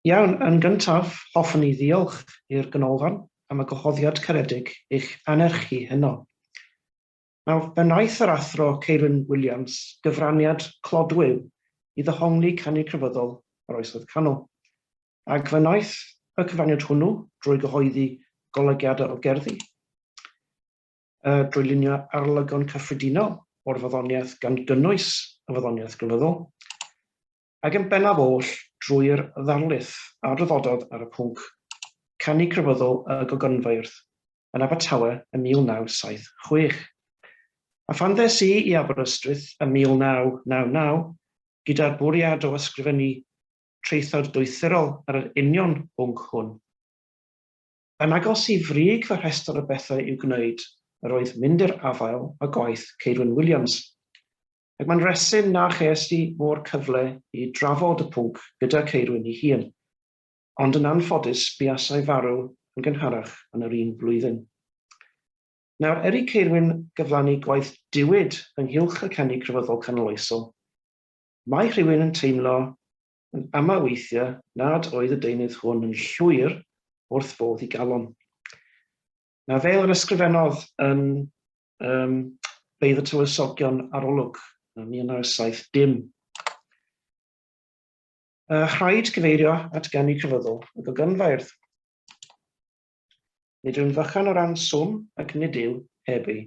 Iawn, yn gyntaf, hoffwn i ddiolch i'r Ganolfan am y gwahoddiad caredig i'ch anerchu heno. Nawr, fe wnaeth yr Athro Ceirwyn Williams gyfraniad clodwiw i ddehongli canu crefyddol yr Oesoedd Canol, ac fe wnaeth y cyfraniad hwnnw drwy gyhoeddi golygiadau o gerddi, drwy lunio arolygon cyffredinol o'r Wyddoniaeth gan gynnwys y Wyddoniaeth Grefyddol, ac yn bennaf oll drwy'r ddarlith a draddododd ar y pwnc, Canu Crefyddol y Gogynfeirdd, yn Abertawe ym 1976. A phan ddes i i Aberystwyth ym 1999, gyda'r bwriad o ysgrifennu traethawd doethurol ar yr union bwnc hwn, yn agos i frig fy rhestr o bethau i'w gwneud, yr oedd mynd i'r afael â gwaith Ceirwyn Williams. ac mae'n resym na ches i mo'r cyfle i drafod y pwnc gyda Ceirwyn ei hun, ond yn anffodus buasai farw yn gynharach yn yr un flwyddyn. Nawr, er i Ceirwyn gyflanu gwaith diwyd ynghylch y canu crefyddol canoloesol, mae rhywun yn teimlo yn amau weithiau nad oedd y deunydd hwn yn llwyr wrth fodd i galon. Na fel yr ysgrifennodd yn um, Beirdd y Tywysogion Arolwg, 1970. Uh, rhaid cyfeirio at ganu cyfyddol y gogynfairdd. Nid yw'n fychan o ran swm ac nid yw heb ei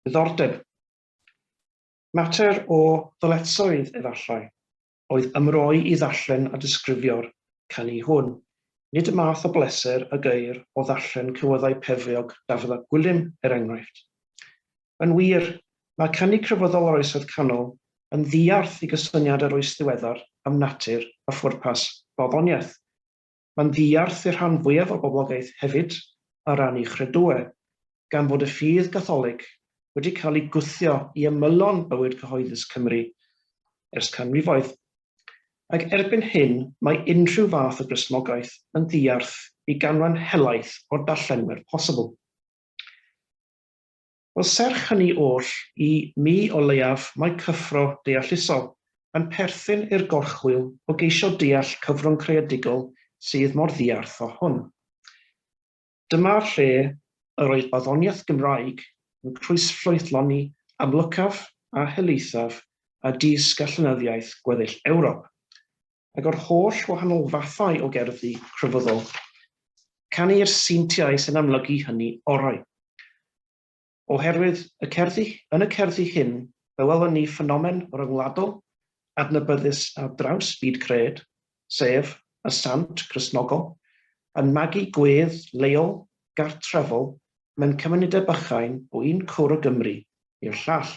ddiddordeb. Mater o ddyletsoedd efallai, oedd ymroi i ddarllen a disgrifio'r canu hwn. Nid y math o bleser a geir o ddarllen cywyddau pefriog Dafydd ap Gwilym, er enghraifft. Yn wir, mae canu crefyddol yr Oesoedd Canol yn ddiarth i gysyniad yr Oes Ddiweddar am natur a phwrpas barddoniaeth. Mae'n ddiarth i'r rhan fwyaf o'r boblogaeth hefyd ar ran ei chredue, gan fod y ffydd Gatholig wedi cael ei gwthio i ymylon bywyd cyhoeddus Cymru ers canrifoedd. Ac erbyn hyn mae unrhyw fath o Gristnogaeth yn ddiarth i ganran helaeth o'r darllenwyr posibl. Wel, serch hynny oll, i mi o leiaf mae cyffro deallusol yn perthyn i'r gorchwyl o geisio deall cyfrwng creadigol sydd mor ddiarth â hwn. Dyma lle yr oedd barddoniaeth Gymraeg yn croesffrwythloni amlycaf a helaethaf a dis-gallinyddiaeth gweddill Ewrop. ac o'r holl wahanol fathau o gerddi crefyddol, canu i'r seintiau sy'n amlygu hynny orau. Oherwydd y cerddi, yn y cerddi hyn, fe welwn ni ffenomen ryngwladol adnabyddus ar draws byd cred, sef y sant Gristnogol, yn magu gwedd leol, gartrefol, mewn cymunedau bychain o un cwr o Gymru i'r llall.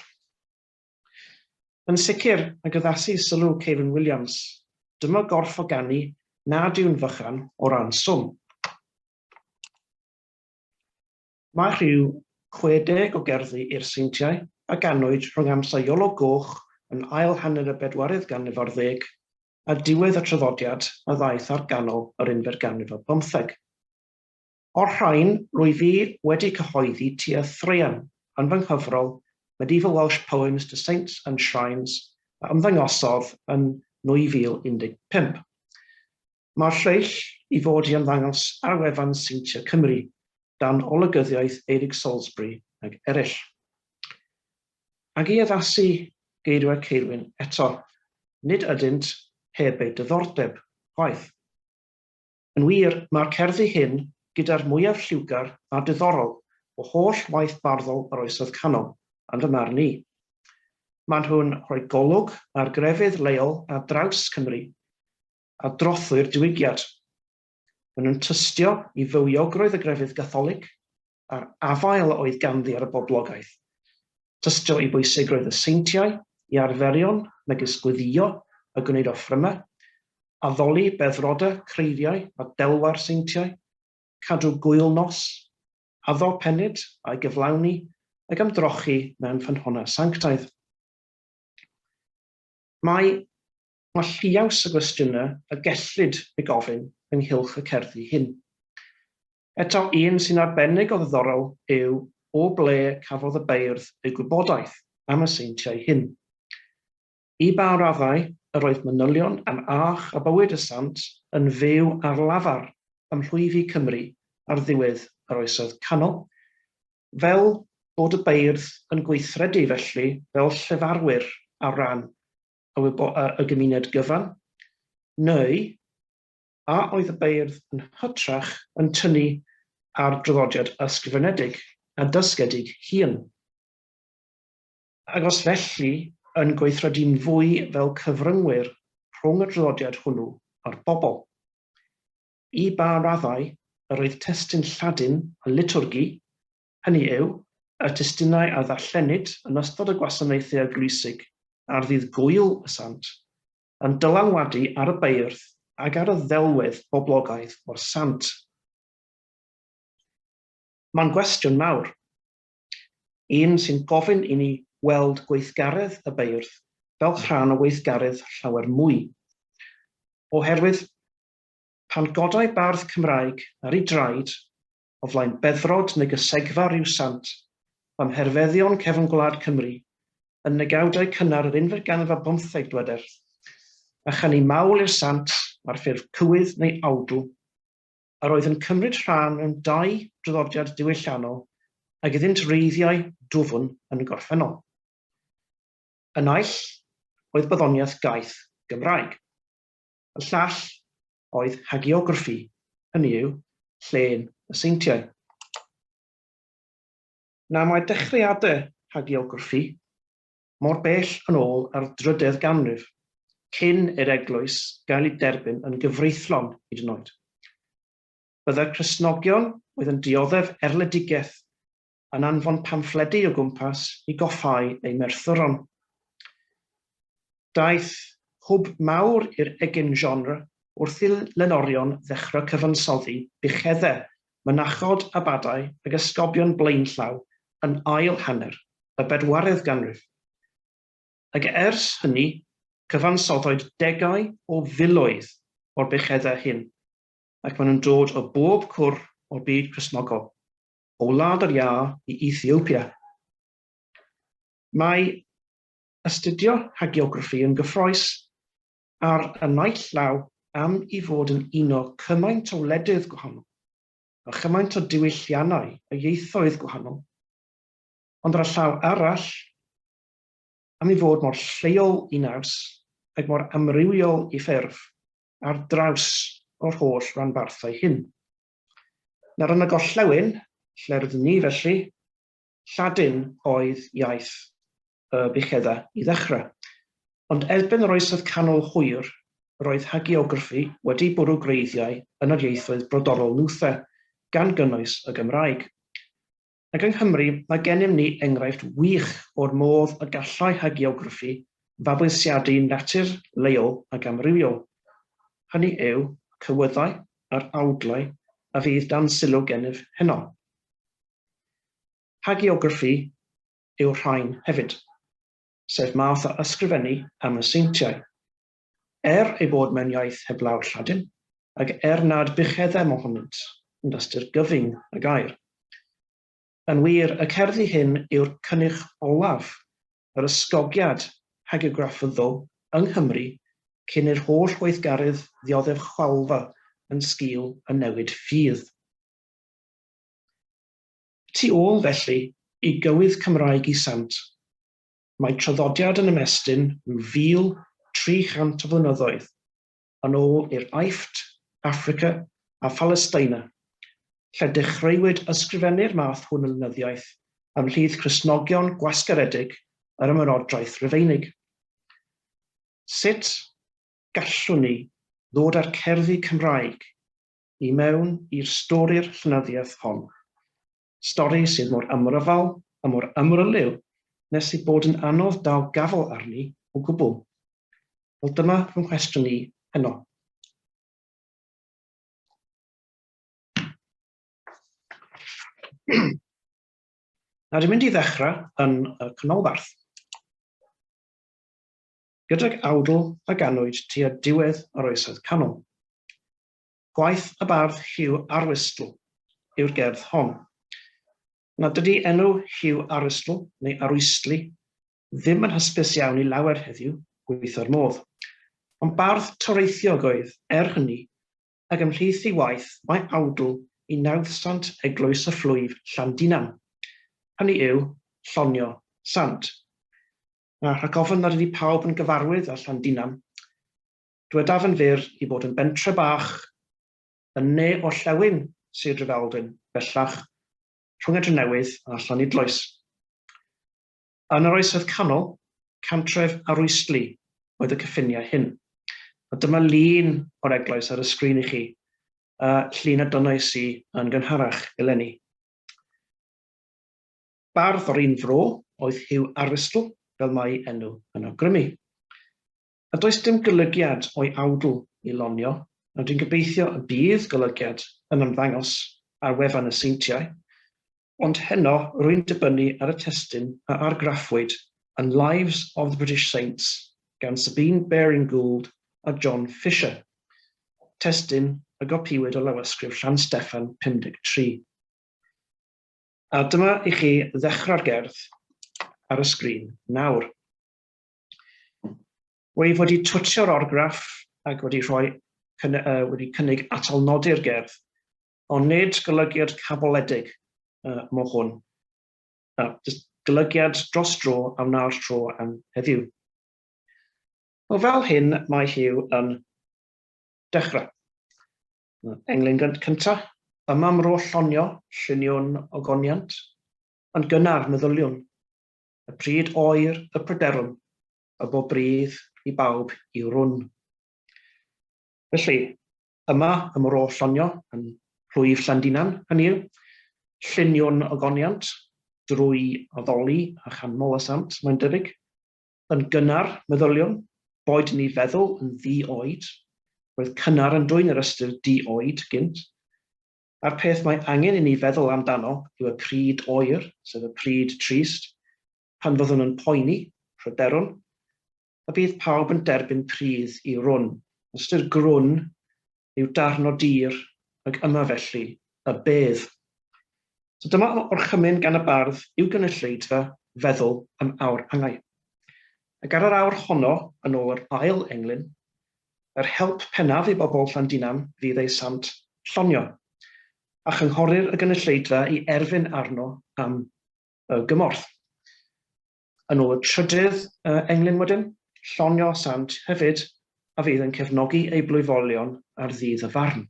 Yn sicr, ac addasu sylw Kevin Williams, dyma gorff o ganu nad yw'n fychan o ran swm. Mae rhyw 60 o gerddi i'r Seintiau a ganwyd rhwng amser Iolo Goch yn ail hanner y bedwaredd ganrif ar ddeg a diwedd y traddodiad a ddaeth ar ganol yr unfed ganrif ar bymtheg. O'r rhain, rwyf i wedi cyhoeddi tua thraean yn fy nghyfrol Medieval Welsh Poems to Saints and Shrines a ymddangosodd yn 2015. Mae'r lleill i fod i ymddangos ar wefan Seintiau Cymru, dan olygyddiaeth Eirig Salisbury ag eraill. Ac i addasu geirwed Ceirwyn eto, nid ydynt heb eu diddordeb, chwaith. Yn wir, mae'r cerddi hyn gyda'r mwyaf lliwgar a diddorol o holl waith barddol yr Oesoedd Canol, yn fy marn i. Maen nhw'n rhoi golwg ar grefydd leol ar draws Cymru, a drothwy'r Diwygiad. Maen nhw'n tystio i fywiogrwydd y grefydd Gatholig, a'r afael a oedd ganddi ar y boblogaeth. Tystio i bwysigrwydd y seintiau, i arferion megis gweddïo a gwneud offrymau, addoli beddrodau, creiriau a delwau'r seintiau, cadw gŵyl nos, addo pennyd a'i gyflawni, ac am drochi mewn ffynhonnau sanctaidd. Mae Mae lliaws o gwestiynau y gellid ei gofyn ynghylch y cerddi hyn. Eto un sy'n arbennig o ddiddorol yw o ble cafodd y beirdd eu gwybodaeth am y seintiau hyn. I ba raddau yr oedd manylion am âch a bywyd y sant yn fyw ar lafar ym mhlwyfi Cymru ar ddiwedd yr Oesoedd Canol, fel bod y beirdd yn gweithredu felly fel llefarwyr ar ran y gymuned gyfan, neu, a oedd y beirdd yn hytrach yn tynnu ar draddodiad ysgrifenedig a dysgedig hŷn, agos felly yn gweithredu'n fwy fel cyfryngwyr rhwng y draddodiad hwnnw a'r bobl. I ba raddau yr oedd testun Lladin y litwrgi, hynny yw, y testunau a ddarllenid yn ystod y gwasanaethau eglwysig ar ddydd Gŵyl y Sant, yn dylanwadu ar y beirdd ac ar y ddelwedd boblogaidd o'r sant. Mae'n gwestiwn mawr, un sy'n gofyn i ni weld gweithgaredd y beirdd fel rhan o weithgaredd llawer mwy, oherwydd pan godai bardd Cymraeg ar ei draed o flaen beddrod negysegfa Riw Sant, am herfeddion cefn gwlad Cymru yn negawdau cynnar yr unfed ganrif ar bymtheg, dyweder, a chan i mawl i'r Sant ar ffurf cywydd neu awdl, yr oedd yn cymryd rhan mewn dau draddodiad diwylliannol ag iddynt wreiddiau dwfn yn y gorffennol. Y naill oedd barddoniaeth gaeth Gymraeg. Y llall oedd hagiograffi, hynny yw, llên y seintiau. Na mae dechreuadau hagiograffi mor bell yn ôl â'r drydedd ganrif, cyn i'r eglwys gael ei derbyn yn gyfreithlon hyd yn oed. Byddai'r Cristnogion oedd yn dioddef erledigaeth yn anfon pamffledi o gwmpas i goffáu ei merthyron. Daeth hwb mawr i'r egin genre wrth i lenorion ddechrau cyfansoddi buchedde, mynachod, abadau ag ysgobion blaenllaw yn ail hanner y bedwaredd ganrif. Ag ers hynny, cyfansoddoed degau o filoedd o'r buchedde hyn, ac maen nhw'n dod o bob cwr o'r byd Cristnogol. o Wlad yr Iâ i Ethiopia. Mae astudio hagiograffi yn gyffrous ar y naill llaw am i fod yn uno cymaint o wledydd gwahanol a chymaint o diwylliannau a ieithoedd gwahanol, ond ar y llaw arall am i fod mor lleol i naws ac mor amrywiol i ffurf ar draws yr holl ranbarthau hyn. Nawr yn y gorllewin, lle rydyn ni felly, Lladin oedd iaith y buchedda i ddechrau. Ond erbyn yr Oesoedd Canol hwyr, roedd hagiograffi wedi bwrw gwreiddiau yn yr ieithoedd brodorol Luther, gan gynnwys y Gymraeg. Ac yng Nghymru, mae gennym ni enghraifft wych o'r modd y gallai hagiograffi fabwysiadu natur leol ac amrywiol, hynny yw, cywyddau a'r awdlau a fydd dan sylw gennyf heno. Hagiograffi yw'r rhain hefyd, sef math o ysgrifennu am y seintiau. Er ei bod mewn iaith heblaw'r Lladin, ac er nad bucheddem ohonynt yn ystyr gyfyng y gair. Yn wir, y cerddi hyn yw'r cynnyrch olaf yr ysgogiad hagiografyddol yng Nghymru cyn i'r holl weithgaredd ddioddef chwalfa yn sgil y newid ffydd. Tu ôl, felly, i gywydd Cymraeg i sant, Mae traddodiad yn ymestyn rhyw 1,300 o flynyddoedd yn ôl i'r Aifft, Affrica a Phalesteina, lle dechreuwyd ysgrifennu'r math hwn o lenyddiaeth ymhlith Cristnogion gwasgaredig yr Ymerodraeth Rufeinig. Sut gallwn ni ddod â'r cerddi Cymraeg i mewn i'r stori'r llenyddiaeth hon? Stori sydd mor amryfal a mor amryliw nes ei bod yn anodd dal gafael arni o gwbl. Wel dyma fy nghwestiwn i heno. Nawr dwi'n mynd i ddechrau yn y canolbarth. Gydag awdl a ganwyd tua diwedd yr oesoedd canol. Gwaith y bardd Hugh Arwistl yw'r gerdd hon. Nad ydy enw Hugh Arwistl, neu Arwystli, ddim yn hysbys iawn i lawer heddiw, gweitho'r modd. Ond bardd toreithiog oedd, er hynny, ac ymhlith ei waith mae awdl i nawddsant eglwys y Fflwyf, Llandinan, hynny yw, Llonio Sant. Rhag ofn nad ydy pawb yn gyfarwydd â Llandinan, Dywedaf yn fyr i fod yn bentre bach yn ne orllewin Sir Drefaldwyn, bellach rhwng y Drenewydd a Llanidloes. Yn yr Oesoedd Canol, cantref arwystli oedd y cyffiniau hyn. A dyma lun o'r eglwys ar y sgrin i chi, y llun a dynnais i yn gynharach eleni. Bardd o'r un fro oedd Hugh Aristl, fel mai enw yn awgrymu. a does dim golygiad o'i awdl i lonio, ond dwi'n gobeithio y bydd golygiad yn ymddangos ar wefan y seintiau, ond heno rwy'n dibynnu ar y testun a argraffwyd yn Lives of the British Saints gan Sabine Baring-Gould a John Fisher, testun y gopïwyd o Lawysgrif Llansteffan 53. A dyma i chi ddechrau'r gerdd ar y sgrin nawr. Wyf wedi twtio'r orgraff ac wedi rhoi cyn, uh, wedi cynnig atal nodi'r gerdd, ond nid golygiad caboledig uh, mo hwn. Uh, golygiad dros dro a wna'r tro am heddiw. O fel hyn mae Hugh yn dechrau. Englyn cyntaf, yma mro llonio, lluniwn ogoniant, ond gynnar meddyliwn. y pryd oer y pryderwn y bo brudd i bawb i'w run. Felly, yma ym Mro Llonio, yn Plwyf Llandinan, hynny yw, lluniwn ogoniant drwy addoli a chan Molasant, mae'n debyg, yn gynnar, meddyliwn, boed ni feddwl yn ddi-oed, roedd cynnar yn dwyn yr ystyr di-oed gynt, a'r peth mae angen i ni feddwl amdano yw y pryd oer, sef y pryd trist, pan fyddwn yn poeni, pryderwn, y bydd pawb yn derbyn pridd i rwn. Ystyr grwn yw darn o dir, ac yma felly y bedd. So dyma orchymyn gan y bardd i'w gynulleidfa feddwl am awr angau. Ac ar yr awr honno, yn ôl yr ail englyn, Yr help pennaf i bobl Llandinan fydd eu sant llonio, a chynghorir y gynulleidfa i erfyn arno am y gymorth. Yn ôl y trydydd englyn wedyn, llonio sant hefyd a fydd yn cefnogi ei blwyfolion ar ddydd y farn.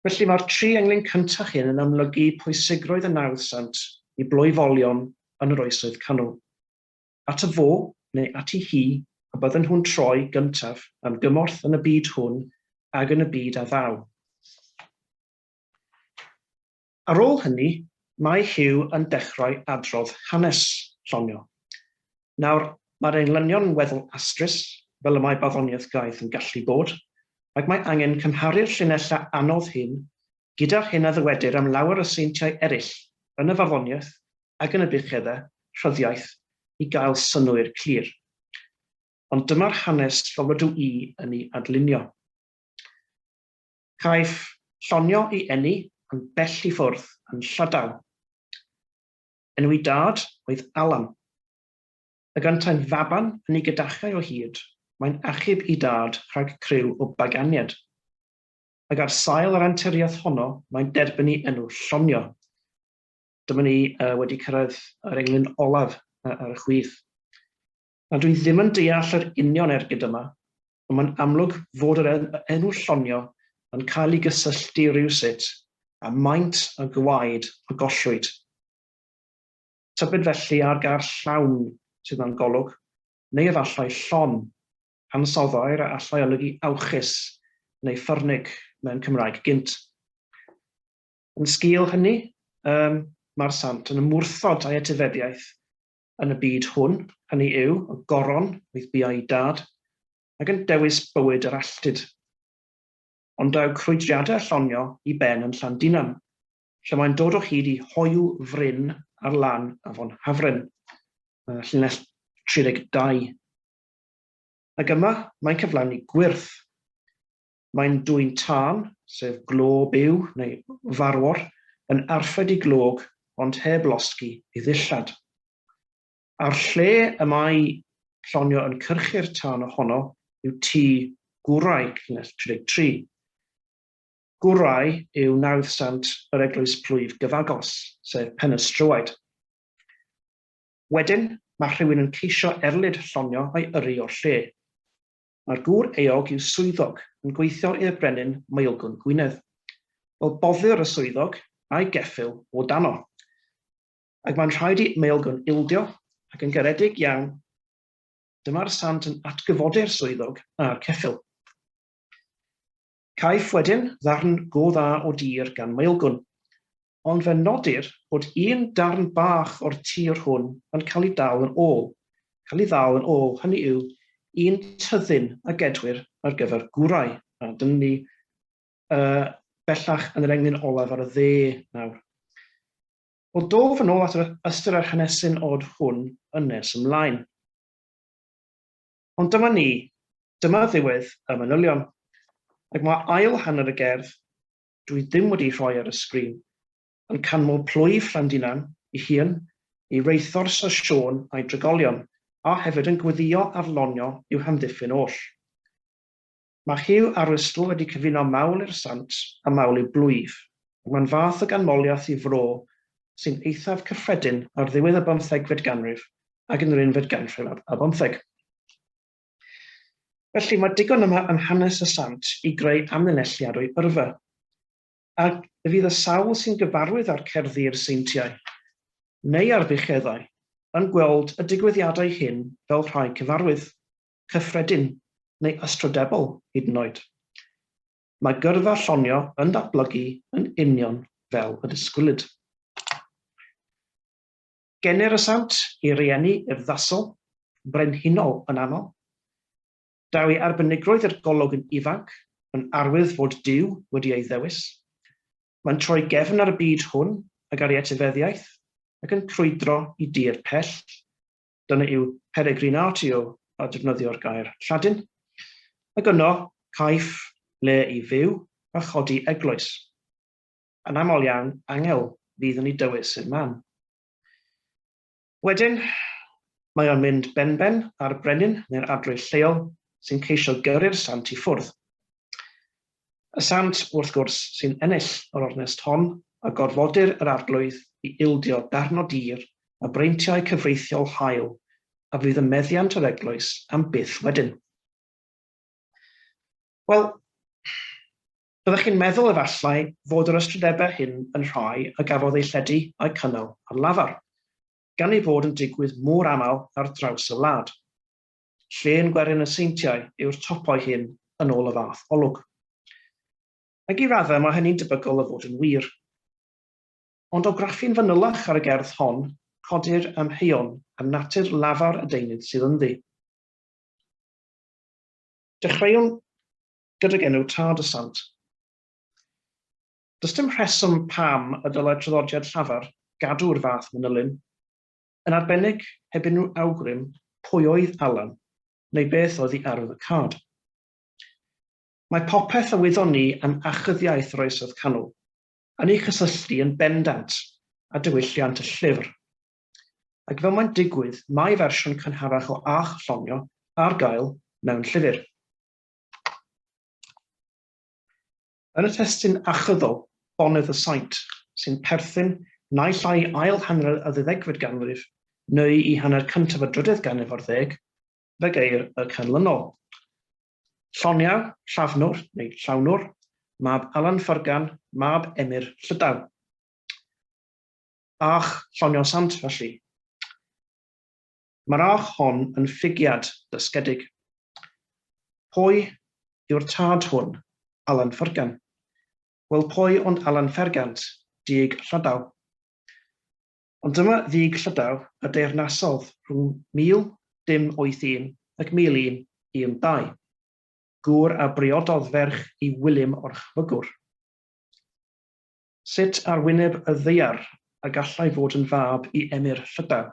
Felly mae'r tri englyn cyntaf hyn yn amlygu pwysigrwydd y nawdd sant i blwyfolion yn yr Oesoedd Canol. At y fo, neu ati hi, a bydden nhw'n troi gyntaf am gymorth yn y byd hwn ag yn y byd a ddaw. Ar ôl hynny, mae Hugh yn dechrau adrodd hanes Llonio. Nawr, mae'r englynion yn weddol astrus, fel y mae barddoniaeth gaeth yn gallu bod, ac mae angen cymharu'r llinellau anodd hyn gyda'r hyn a ddywedir am lawer o seintiau eraill yn y farddoniaeth ac yn y buchedda, rhyddiaith, i gael synnwyr clir. Ond dyma'r hanes fel rydw i yn ei adlunio. Caiff Llonio ei eni yn bell i ffwrdd, yn Llydaw. Enw ei dad oedd Alan. Y gantai'n faban yn ei gydachae o hyd, mae'n achub i dad rhag criw o baganied. Ac ar sail yr anturiaeth honno mae'n derbynnu enw Llonio. dyma ni uh, wedi cyrraedd yr englyn olaf uh, ar y chwith. A dwi ddim yn deall yr union ergyd yma, ond mae'n amlwg fod yr enw llonio yn cael ei gysylltu rhywsut a maint a gwaed a gollwyd. Tybed felly ar gair llawn sydd na'n golwg, neu efallai llon, ansoddair a allai olygu awchus neu ffyrnig mewn Cymraeg gynt. Yn sgîl hynny, ym mae'r Sant yn ymwrthod â'i etifeddiaeth yn y byd hwn, hynny yw, y Goron oedd bua'i dad, ac yn dewis bywyd yr alltud. Ond daw crwydriadau Llonio i ben yn Llandinan, lle mae'n dod o hyd i hoyw fryn ar lan afon Hafren, llinell 32. Ac yma mae'n cyflawni gwyrth. Mae'n dwyn tân, sef glo byw neu farwor, yn arfed i glog ond heb losgi ei ddillad. A'r lle y mae Llonio yn cyrchu'r tân ohono yw tŷ Gwraig, llinell 33. Gwraig yw nawddsant yr eglwys plwyf gyfagos, sef Penystrywed. Wedyn, mae rhywun yn ceisio erlid Llonio a'i yrru o'r lle. Mae'r gŵr eog yw swyddog yn gweithio i'r Brenin Maelgwn Gwynedd. Wel, boddiwr y swyddog a'i geffyl o dano. Ac mae'n rhaid i Maelgwn ildio, ac yn garedig iawn, dyma'r sant yn atgyfodi'r swyddog a'r ceffyl. Caiff wedyn ddarn go dda o dir gan Maelgwn. ond fe nodir bod un darn bach o'r tir hwn yn cael ei dal yn ôl, cael ei ddal yn ôl, hynny yw, un tyddyn a gedwir ar gyfer gwrau. A dyna ni uh, bellach yn yr englyn olaf ar y dde nawr. Wel, dof yn ôl at yr ystyr a'r hanesyn od hwn yn nes ymlaen. Ond dyma ni, dyma ddiwedd y manylion, ac mae ail hanner y gerdd dwi ddim wedi rhoi ar y sgrin, yn canmol plwyf Llandinan ei hun, ei reithor Syr Siôn a'i drigolion, a hefyd yn gweddïo ar lonio i'w hamddiffyn oll. Mae Huw Arwystl wedi cyfuno mawl i'r sant a mawl i'w blwyf, ac mae'n fath o ganmoliaeth i fro sy'n eithaf cyffredin ar ddiwedd y bymthegfed ganrif ac yn yr unfed ganrif ar bymtheg. Felly, mae digon yma yn Hanes y Sant i greu amlinelliad o'i yrfa. A fydd y sawl sy'n gyfarwydd â'r cerddi i'r seintiau, neu ar fucheddau, yn gweld y digwyddiadau hyn fel rhai cyfarwydd, cyffredin, neu ystrydebol hyd yn oed? Mae gyrfa Llonio yn datblygu yn union fel y disgwylid. Generasant i rieni urddasol, brenhinol yn aml. Daw ei arbenigrwydd i'r golwg yn ifanc, yn arwydd fod Duw wedi ei ddewis. Mae'n troi gefn ar y byd hwn ag ar ei etifeddiaeth ac yn crwydro i dir pell. Dyna yw peregrinatio a defnyddio'r gair Lladin. Ac yno, caiff le i fyw a chodi eglwys. Yn aml iawn, angel fydd yn ei dywys i'r man. Wedyn, mae o'n mynd benben ar brenin neu'r adroedd lleol sy'n ceisio gyrru'r sant i ffwrdd. Y sant, wrth gwrs, sy'n ennill yr ornest hon a gorfodir yr arglwydd i ildio darn o dir a breintiau cyfreithiol hael a fydd yn meddiant yr eglwys am byth wedyn. Wel, Byddech chi'n meddwl efallai fod yr ystrydebau hyn yn rhai a gafodd eu lledu a'u cynnal ar lafar, gan eu bod yn digwydd mor aml ar draws y wlad. Llên gwerin y seintiau yw'r topoi hyn yn ôl y fath olwg. Ac i raddau mae hynny'n debygol o fod yn wir. Ond o graffu'n fanylach ar y gerdd hon, codir amheuon am natur lafar y deunydd sydd ynddi. Dechreuwn gydag enw Tad y Sant. Does dim rheswm pam y dylai traddodiad llafar gadw'r fath manylyn, yn arbennig heb unrhyw awgrym pwy oedd Alan neu beth oedd i arwydd y card. Mae popeth a wyddon ni am achyddiaeth yr Oesoedd Canol yn ei chysylltu yn bendant â diwylliant y llyfr, ac fel mae'n digwydd mae fersiwn cynharach o Âch Llongio ar gael mewn llyfr. Yn y testun achyddol, Bonedd y Saint, sy'n perthyn naill ai i ail hanner y ddeuddegfed ganrif neu i hanner cyntaf y drydedd ganrif ar ddeg, fe geir y canlynol. Lloniau, Llafnwr, neu Llawnwr, mab Alan Ffyrgan, mab Emyr Llydaw. Bach, Lloniau Sant, felly. Mae'r arch hon yn ffugiad dysgedig. Pwy yw'r tad hwn? Alan Fergan. Wel, pwy ond Alan Fergant, dug Llydaw. Ond dyma ddug Llydaw y deyrnasodd rhwng 1081 ac 1112, gŵr a briododd ferch i Wilym o'r Chwygwr. Sut ar wyneb y ddaear y gallai fod yn fab i emyr Llydaw?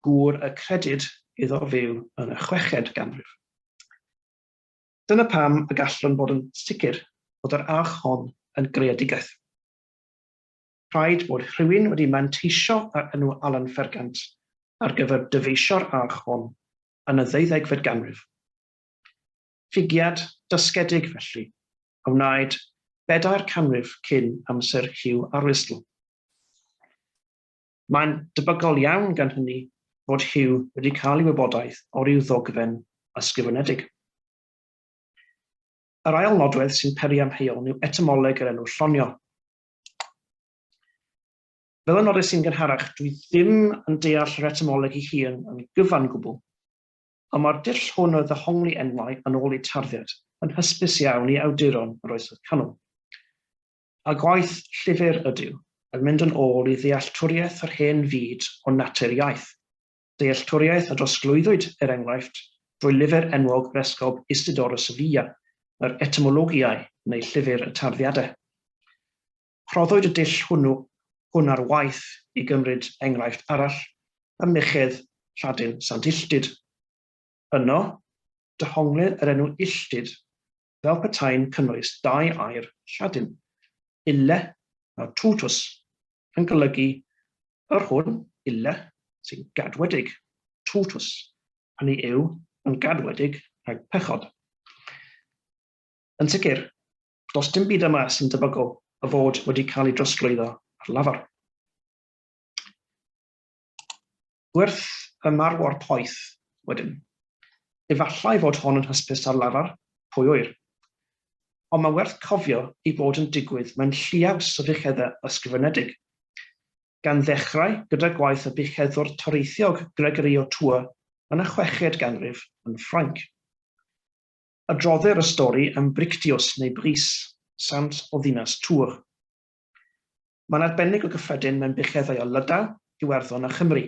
Gŵr y credid iddo fyw yn y chweched ganrif. Dyna pam y gallwn fod yn sicr bod yr arch hon yn greadigaeth. Rhaid bod rhywun wedi manteisio ar enw Alan Fergant ar gyfer dyfeisio'r arch hon yn y ddeuddegfed ganrif. Ffigiad dysgedig, felly, a wnaed bedair canrif cyn amser Hugh Arlistl. Mae'n debygol iawn, gan hynny, fod Hugh wedi cael ei wybodaeth o ryw ddogfen ysgrifenedig. Yr ail nodwedd sy'n peri amheuon yw etamoleg yr enw Llonio. Fel y nodais i'n gynharach, dwi ddim yn deall yr etamoleg ei hun yn gyfan gwbl, ond mae'r dull hwn o ddehongli enwau yn ôl eu tarddiad yn hysbys iawn i awduron yr Oesoedd Canol. A gwaith llyfr ydyw, yn mynd yn ôl i ddealltwriaeth yr hen fyd o natur iaith, dealltwriaeth a drosglwyddwyd, er enghraifft, drwy lyfr enwog resgob Isidor y Sevilla, yr Etymologiae, neu Llyfr y Tarddiadau. Rhoddwyd y dull hwnnw hwn ar waith i gymryd enghraifft arall, y mychedd Lladin Sant Illtyd. Yno, dehonglid yr enw Illtyd fel petai'n cynnwys dau air Lladin, ille a tutus, yn golygu yr hwn, ille, sy'n gadwedig, tutus, hynny yw, yn gadwedig rhag pechod. Yn sicr, does dim byd yma sy'n debygol o fod wedi cael ei drosglwyddo ar lafar. Gwerth y marwor poeth, wedyn. Efallai fod hon yn hysbys ar lafar, pwy ŵyr. Ond mae werth cofio ei bod yn digwydd mewn lliaws o fucheddau ysgrifenedig, gan ddechrau gyda gwaith y bucheddwr toreithiog Gregory o Tours yn y chweched ganrif yn Ffrainc. Adroddir y stori am Brictius neu Brice, sant o ddinas Tours. Mae'n arbennig o gyffredin mewn bucheddau o Lydaw, Iwerddon a Chymru.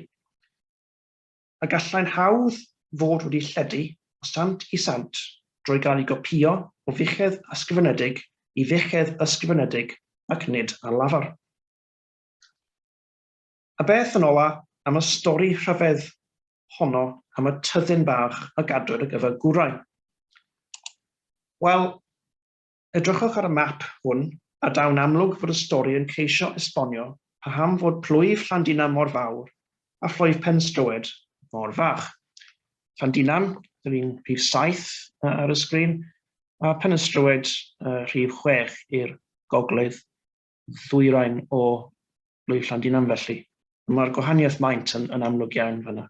A gallai'n hawdd fod wedi lledu o sant i sant drwy gael ei gopïo o fuchedd ysgrifenedig i fuchedd ysgrifenedig ac nid ar lafar. A beth yn ola am y stori rhyfedd honno am y tyddyn bach a gadwyd ar gyfer gwrau? Wel, Edrychwch ar y map hwn a daw'n amlwg fod y stori yn ceisio esbonio paham fod plwyf Llandinam mor fawr a phlwyf Penstroed mor fach. Llandinam, yr un rhif saith ar y sgrin, a Phenystrowed, y rhif chwech i'r gogledd ddwyrain o blwyf Llandinam felly. Mae'r gwahaniaeth maint yn, yn amlwg iawn fanna.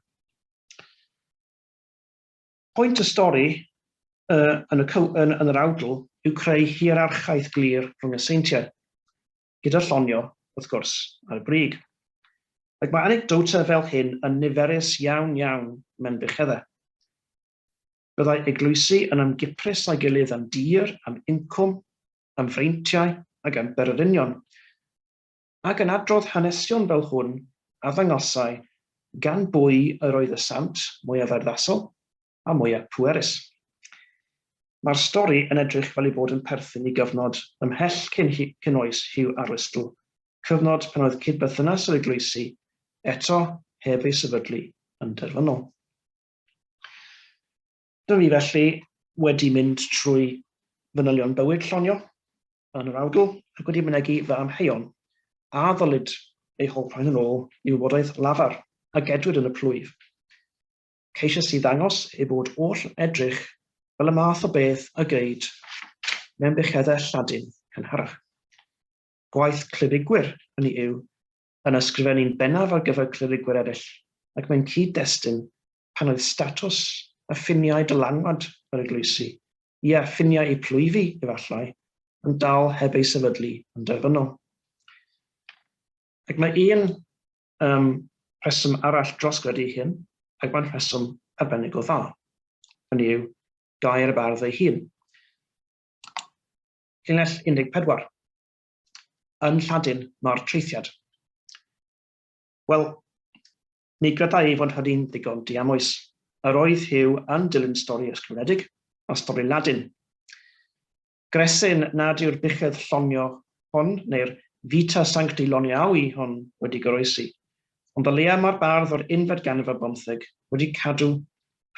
Pwynt y stori yn y cyw yn yn yr awdl yw creu hierarchaeth glir rhwng y seintiau, gyda Llonio, wrth gwrs, ar y brig. Ac mae anecdotau fel hyn yn niferus iawn iawn mewn bucheddau. Byddai eglwysi yn ymgiprys â'i gilydd am dir, am incwm, am freintiau ac am bererinion. ac yn adrodd hanesion fel hwn a ddangosai gan bwy yr oedd y sant mwyaf urddasol a mwyaf pwerus. Mae'r stori yn edrych fel ei bod yn perthyn i gyfnod ymhell cyn, cyn oes Hugh Arwystl, cyfnod pan oedd cyd-berthynas yr eglwysi, eto heb ei sefydlu, yn derfynol. Dw i felly wedi mynd trwy fanylion bywyd Llonio yn yr awdl ac wedi mynegi fy amheuon a ddylid eu holl rhoi yn ôl i wybodaeth lafar a gedwid yn y plwyf. Ceisiais i ddangos ei bod oll yn edrych fel y math o beth y geid mewn bucheddau Lladin cynharach. Gwaith clefygwyr hynny yw yn ysgrifennu'n bennaf ar gyfer clerigwyr eraill, ac mae'n cyd-destun pan oedd statws a ffiniau dylanwad yr eglwysi, ie, ffiniau eu plwyfi, efallai, yn dal heb eu sefydlu yn derfynol. Ac mae un um, rheswm arall dros gredu hyn, ac mae'n rheswm arbennig o dda. Hynny yw, gair y bardd ei hun. Llinell 14. yn Lladin mae'r traethiad. Wel, mi gredai ei fod hynny'n ddigon diamwys. Yr oedd Hugh yn dilyn stori ysgrifenedig a stori Ladin. Gresyn nad yw'r buchedd llonio hon, neu'r Vita Sancti Loniawi hon wedi goroesi, ond o leia mae'r bardd o'r unfed ganrif ar bymtheg wedi cadw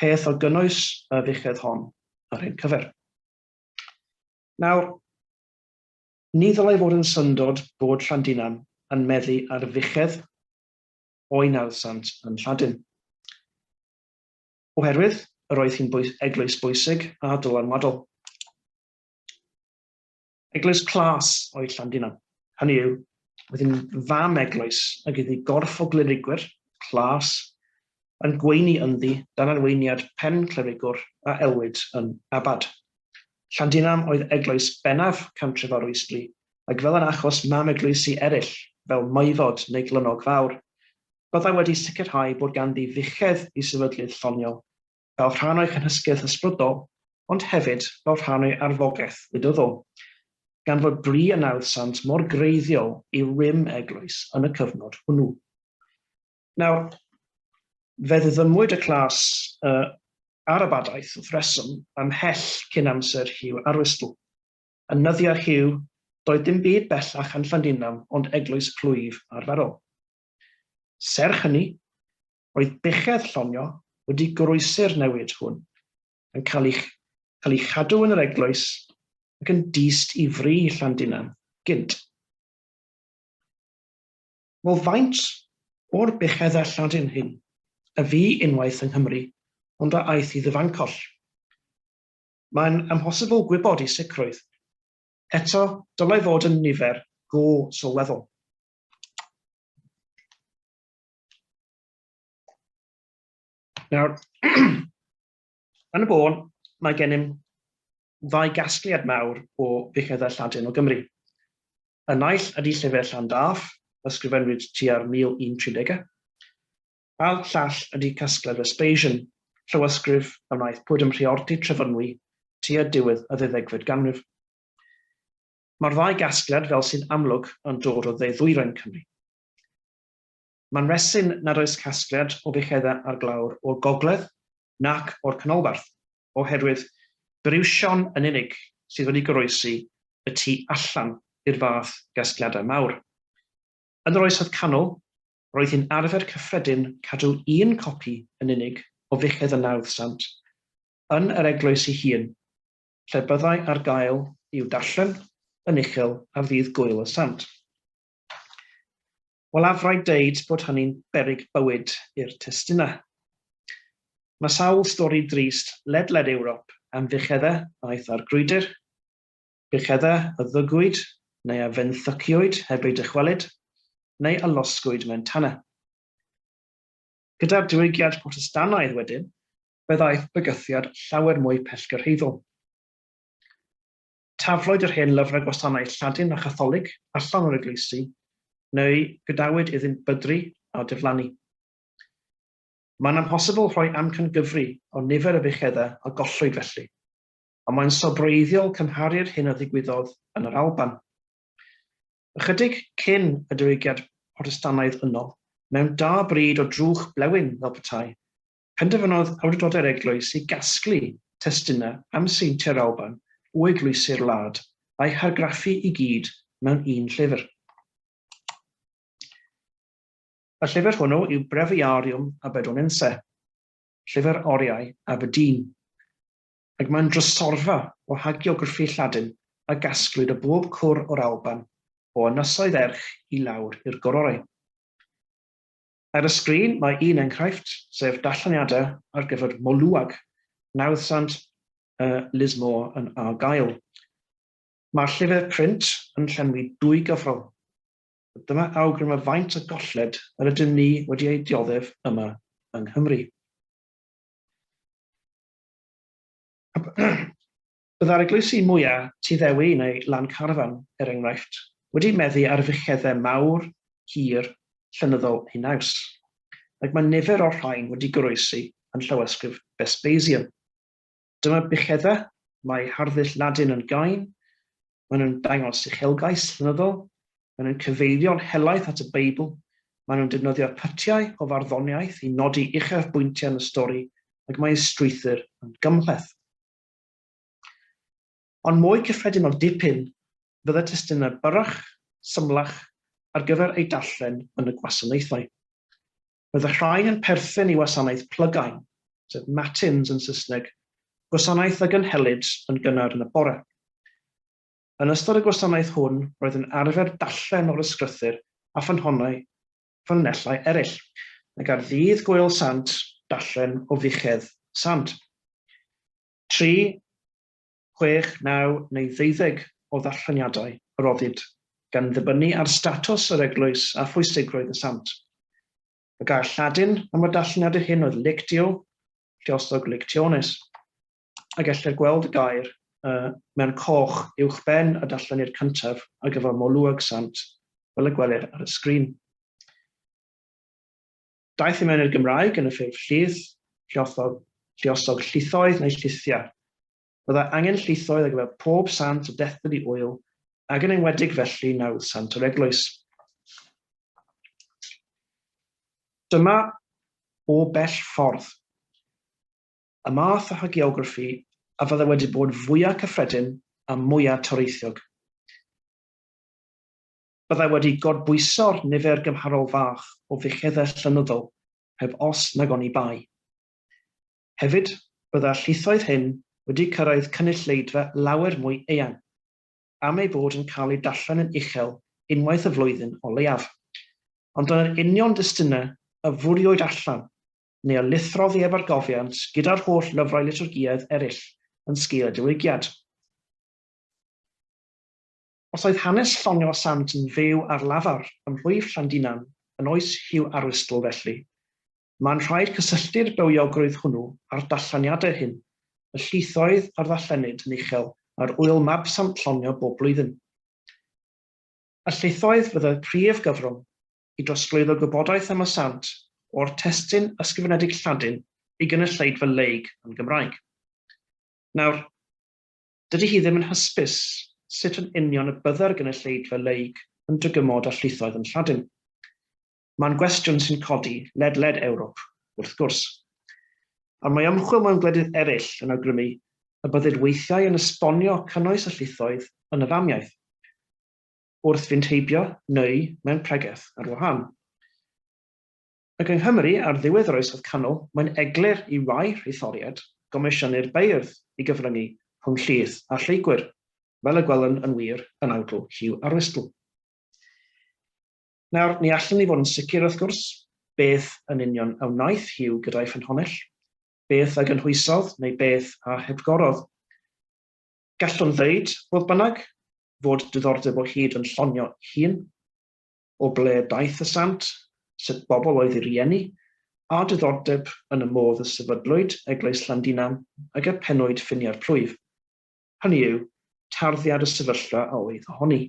peth o gynnwys y fuchedd hon yr hyn cyfer. Nawr, Ni ddylai fod yn syndod bod Llandinam yn meddu ar fuchedd o'i nawddsant yn Lladin. Oherwydd yr oedd hi'n eglwys bwysig a dylanwadol. Eglwys clas oedd Llandinam. Hynny yw, oedd hi'n fam eglwys ag iddi gorff o glerigwyr, clas, yn gweini ynddi dan arweiniad pen clerigwr a elwid yn abad. Llandinam oedd eglwys bennaf cantref Arwystli, ac fel yn achos mam eglwysi eraill, fel Maevod neu Glynog Fawr, byddai wedi sicrhau bod ganddi fuchedd i sefydlydd lloniol, fel rhan o'i chynhysgyrth ysbrydol, ond hefyd fel rhan o'i arfogaeth wleidyddol, gan fod bri a nawdd sant mor greiddiol i rym eglwys yn y cyfnod hwnnw. Nawr, fe ddiddymwyd y clas uh, Arabadaeth wrth reswm ymhell cyn amser Hugh Arwistle. Yn nyddiau Hugh, doedd dim byd bellach yn Llandinam ond eglwys plwyf arferol. Serch hynny, roedd buchedd llonio wedi goroesi'r newid hwn, yn cael ei, cael ei chadw yn yr eglwys ac yn dyst i fri Llandinam gynt. Wel, faint o'r buchedda Lladin hyn a fu unwaith yng Nghymru ond a aeth i ddyfancoll? Mae'n amhosibl gwybod i sicrwydd. Eto, dylai fod yn nifer go sylweddol. Nawr, Yn y bôn, mae gennym ddau gasgliad mawr o fuchneddau Lladin o Gymru. Y naill ydy llyfr Llandaf, ysgrifennwyd tua'r 1130au, a'r llall ydy casgliad Vespasian, llawysgrif a wnaeth Pwd ym Mhriordy, Trefynwy, tua diwedd y ddeuddegfed ganrif. Mae'r ddau gasgliad, fel sy'n amlwg, yn dod o dde-ddwyrain Cymru. Mae'n resin nad oes casgliad o fucheddau ar glawr o'r gogledd nac o'r canolbarth, oherwydd briwsion yn unig sydd wedi goroesi y tu allan i'r fath gasgliadau mawr. Yn yr Oesoedd Canol, roedd hi'n arfer cyffredin cadw un copi yn unig o fuchedd y Nawdd Sant yn yr eglwys ei hun, lle byddai ar gael i'w darllen yn uchel ar ddydd Gŵyl y Sant. Wel af rhaid deud bod hynny'n beryg bywyd i'r testunau. Mae sawl stori drist ledled Ewrop am fuchedda a aeth ar grwydr, buchedda a ddygwyd neu a fenthyciwyd heb eu dychwelyd, neu a losgwyd mewn tanau. Gyda'r Diwygiad Protestannaidd wedyn, fe ddaeth bygythiad llawer mwy pellgyrhaeddol. Taflwyd yr hen lyfrau gwasanaeth Lladin a Chatholig allan o'r eglwysi, neu gadawyd iddynt bydru a diflannu. Mae'n amhosibl rhoi amcangyfri o nifer y bucheddau a gollwyd felly, ond mae'n sobreiddiol cymharu'r hyn a ddigwyddodd yn yr Alban, ychydig cyn y Diwygiad Protestannaidd yno, mewn da bryd o drwch blewyn fel petai penderfynodd awdurdodau'r eglwys i gasglu testunau am seintiau'r Alban o eglwysi'r wlad, a'u hargraffu i gyd mewn un llyfr. Y llyfr hwnnw yw Breviarium Aberdonense, Llyfr Oriau Aberdeen, ac mae'n drysorfa o hagiograffi Lladin a gasglwyd o bob cwr o'r Alban, o ynysoedd erch i lawr i'r gororau. Ar y sgrin mae un enghraifft, sef darlleniadau ar gyfer Moluag, nawddsant y Liz Moore yn argael. Mae'r llyfr print yn llenwi dwy gyfrol. Dyma awgrym o faint o golled yr ydym ni wedi ei dioddef yma yng Nghymru. Byddai'r eglwysi mwya' Tŷ Ddewi neu Lan Carfan, er enghraifft, wedi meddu ar fuchedde mawr, hir, llenyddol eu naws. Ac mae nifer o'r rhain wedi goroesi yn llawysgrif Vespasian. Dyma buchedde, mae harddull Ladin yn gain, maen nhw'n dangos uchelgais llenyddol, maen nhw'n cyfeirio'n helaeth at y Beibl, maen nhw'n defnyddio pytiau o farddoniaeth i nodi uchafbwyntiau yn y stori, ac mae eu strwythur yn gymhleth. Ond mwy cyffredin o dipyn fydde testunau byrrach, symlach ar gyfer eu darllen yn y gwasanaethau. Roedd y rhain yn perthyn i wasanaeth plygain, sef matins yn Saesneg, gwasanaeth a gynhelid yn gynnar yn y bore. Yn ystod y gwasanaeth hwn roedd yn arfer darllen o'r ysgrythyr a ffynhonnau fy llinellau ereill, nag ar ddydd Gwyl Sant darllen o fuchedd Sant. Tri, chwech, naw neu ddeuddeg o ddarlleniadau a roddid, gan ddibynnu ar statws yr eglwys a phwysigrwydd y Sant. Y gair Lladin am y darlleniadau hyn oedd lectio, lliosog lectiones. a gellir gweld y gair y mewn coch uwchben y darllenydd cyntaf ar gyfer Molwg Sant, fel y gwelir ar y sgrin. Daeth i mewn i'r Gymraeg yn y ffurf llith, lliothog, lliosog llithoedd neu llithiau. Byddai angen llithoedd ar gyfer pob sant o dethpyd i ŵyl, ac yn enwedig felly nawdd sant yr eglwys. Dyma o bell ffordd. y math o hagiograffi a fyddai wedi bod fwyaf cyffredin a mwyaf toreithiog. Byddai wedi gorbwyso'r nifer gymharol fach o fuchedau llenyddol, heb os nag oni bai. Hefyd, byddai'r llithoedd hyn wedi cyrraedd cynulleidfa lawer mwy eang, am eu bod yn cael eu darllen yn uchel unwaith y flwyddyn o leiaf. Ond dyna'r union destunau a fwriwyd allan neu o lithro oddi ef ar gofiant gyda'r holl lyfrau liturgiaidd eraill yn sgil y Diwygiad. Os oedd hanes llongyfa sant yn fyw ar lafar ym mhlwyf Llandinan yn oes Hugh Arwystl felly, mae'n rhaid cysylltu'r bywiogrwydd hwnnw â'r dallaniadau hyn, y llithoedd a ddarllenid yn uchel ar ŵyl mab Sant Llongio bob blwyddyn. Y llithoedd fydd y prif gyfrwng, i drosglwyddo gwybodaeth am y sant o'r testun ysgrifenedig Lladin i gynulleidfa league yn Gymraeg. Nawr, dydy hi ddim yn hysbys sut yn union y bydde'r gynulleidfa league yn dygymod â llwythoedd yn Lladin. Mae'n gwestiwn sy'n codi ledled Ewrop, wrth gwrs. Ond mae ymchwil mewn gwledydd eraill yn awgrymu y byddid weithiau yn esbonio cynnwys y llwythoedd yn y famiaith. wrth fynd heibio neu mewn pregeth ar wahân. Ac yng Nghymru ar ddiwedd yr Oesoedd Canol, mae'n eglur i rai rhythoriaid gomisiynnu'r beirdd i gyfryngu rhwng llys a lleygwyr, fel y gwelwn yn wir yn awdl Hugh Arwistl. Nawr, ni allwn ni fod yn sicr, wrth gwrs, beth yn union a wnaeth Hugh gyda'i ffynhonnell, beth a gynhwysodd neu beth a hepgorodd. Gallwn ddeud, fodd bynnag, fod diddordeb o hyd yn llonio hun. O ble daeth y sant, sut bobl oedd ei rieni, a diddordeb yn y modd y sefydlwyd Eglwys Llandinam ag y pennwyd ffiniau'r plwyf, hynny yw, tarddiad y sefyllfa a oedd ohoni.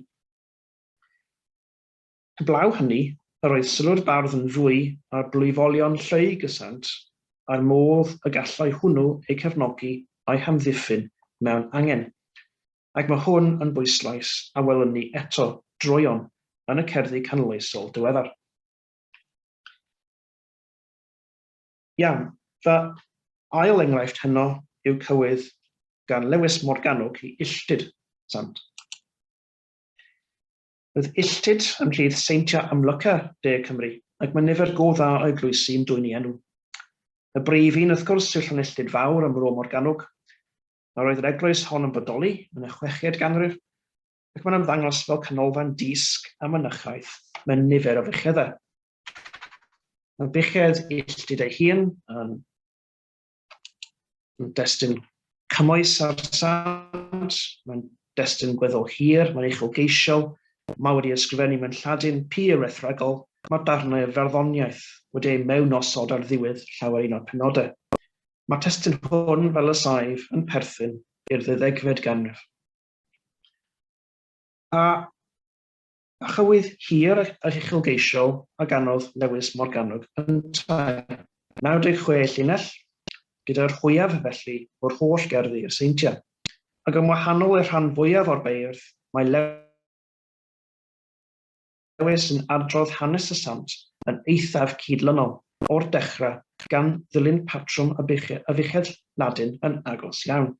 Heblaw hynny, yr oedd sylw'r bardd yn fwy ar blwyfolion Lleu Gysant a'r modd y gallai hwnnw eu cefnogi a'u hamddiffyn mewn angen. Ac mae hwn yn bwyslais a welwn ni eto droeon yn y cerddi canoloesol diweddar. Iawn, fy ail enghraifft heno yw cywydd gan Lewis Morgannwg i Illtud Sant. Bydd Illtud yn rhydd seintiau amlyca De Cymru, ac mae nifer go dda o eglwysi yn dwyn ei enw. Y brif un, wrth gwrs, yw Llanilltud Fawr ym Mro Morgannwg. Yr oedd yr eglwys hon yn bodoli yn y chweched ganrif, ac mae'n ymddangos fel canolfan dysg a mynychaeth mewn nifer o fucheddau. Mae buchedd Illtud ei hun yn. Mae'n destun cymwys ar sant, mae'n destun gweddol hir, mae'n uchelgeisiol, mae wedi ysgrifennu mewn Lladin pur wrthregol, mae darnau o farddoniaeth wedi eu mewnosod ar ddiwedd llawer un o'r penodau. Mae testun hwn, fel y saif, yn perthyn i'r ddeuddegfed ganrif. A a chywydd hir ac uchelgeisiol a ganodd Lewis Morgannwg yntau. 96 llinell, gyda'r fwyaf felly o'r holl gerddi a seintiau, ac yn wahanol i'r rhan fwyaf o'r beirdd, mae Lewis Lewis yn adrodd hanes y sant yn eithaf cydlynol, o'r dechrau, gan ddilyn patrwm y buchedd Ladin yn agos iawn.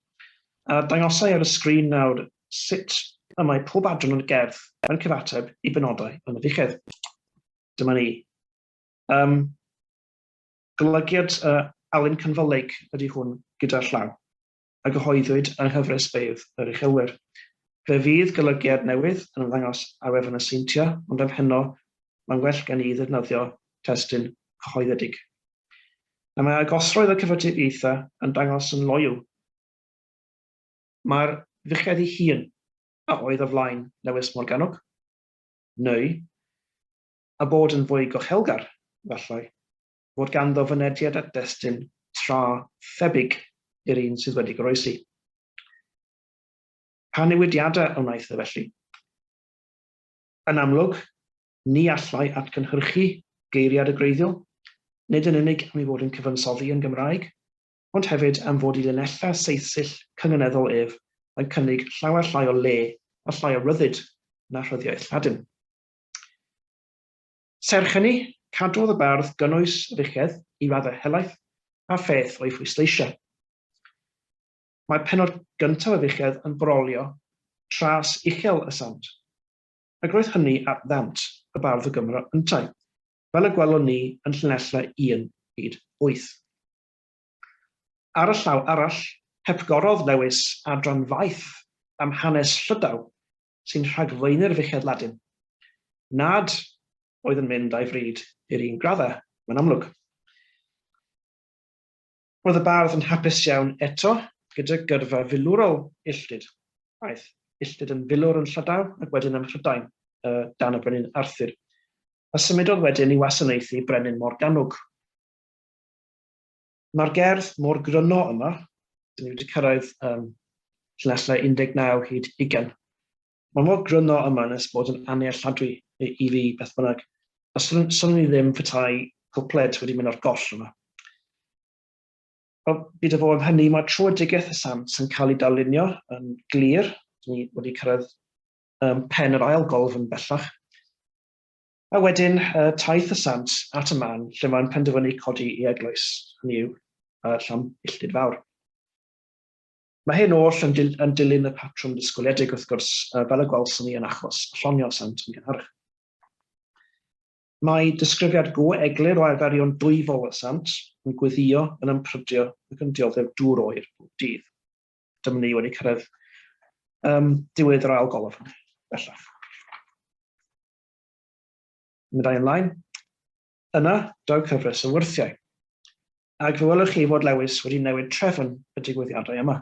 A dangosai ar y sgrin nawr sut y mae pob adran o'r gerdd yn cyfateb i benodau yn y fuchedd. Dyma ni. Um, golygiad uh, Alun Cynfylyg ydy hwn gyda'r llaw, a gyhoeddwyd yng nghyfres beirdd yr uchelwyr. Fe fydd golygiad newydd yn ymddangos ar wefan y Seintia, ond am heno mae'n well gen i ddefnyddio testyn cyhoeddedig. Na mae agosroedd y cyfatebieitha yn dangos yn loyw Mae'r fuchedd ei hun a oedd o flaen Lewis Morgannwg, neu, a bod yn fwy gochelgar, efallai, fod ganddo fynediad at destun tra thebyg i'r un sydd wedi goroesi. Pa newidiadau a wnaeth e felly? Yn amlwg, ni allai atgynhyrchu geiriad y gwreiddiol, nid yn unig am ei fod yn cyfansoddi yn Gymraeg, ond hefyd am fod i linellau saethyll cynganeddol ef yn cynnig llawer llai o le a llai o ryddid na rhyddiaith Lladin. Serch hynny, cadwodd y bardd gynnwys richedd i raddau helaeth a pheth o'i phwysleisiau. Mae penod gyntaf y richedd yn brolio tras uchel y sant, ac roedd hynny at ddant y bardd o Gymro yntau, fel y gwelwn ni yn llinellau 1 hyd 8. Ar y llaw arall, hepgorodd Lewis adran faith am hanes Llydaw sy'n rhagflaenu'r fichedd Ladin, nad oedd yn mynd â'i fryd i'r un graddau, mae'n amlwg. Roedd y bardd yn hapus iawn eto gyda gyrfa filwrol Illtyd. Aeth Illtyd yn filwr yn Llydaw ac wedyn ym Mhrydain o dan y Brenin Arthur, a symudodd wedyn i wasanaethu Brenin Morgannwg. Mae'r gerdd mor gryno yma, dyn ni wedi cyrraedd um, llinellau 19 hyd 20. Mae mor gryno yma nes bod yn annealladwy i, i fi beth bynnag. A swn, swn ni ddim petai cwpled wedi mynd o'r goll yma. Ond byd o fo am hynny, mae troedigaeth y sant yn cael ei darlunio yn glir. Dyn ni wedi cyrraedd um, pen yr ail golf yn bellach. A wedyn, uh, taith y sant at y man lle mae'n penderfynu codi i eglwys, hynny yw, uh, llam illtud fawr. Mae hyn oll yn, dil yn dilyn y patrwm disgwyliedig, wrth gwrs, uh, fel y gwelson ni yn achos llonio sant yn gynharach. Mae disgrifiad go eglur o arferion dwyfol y sant yn gweddio, yn ymprydio ac yn dioddef dŵr oer bob dydd. Dyma ni wedi cyrraedd um, diwedd yr ail golofn, bellach. Meddai ymlaen, Yna, daw cyfres o wyrthiau. Ac fe welwch chi fod Lewis wedi newid trefn y digwyddiadau yma.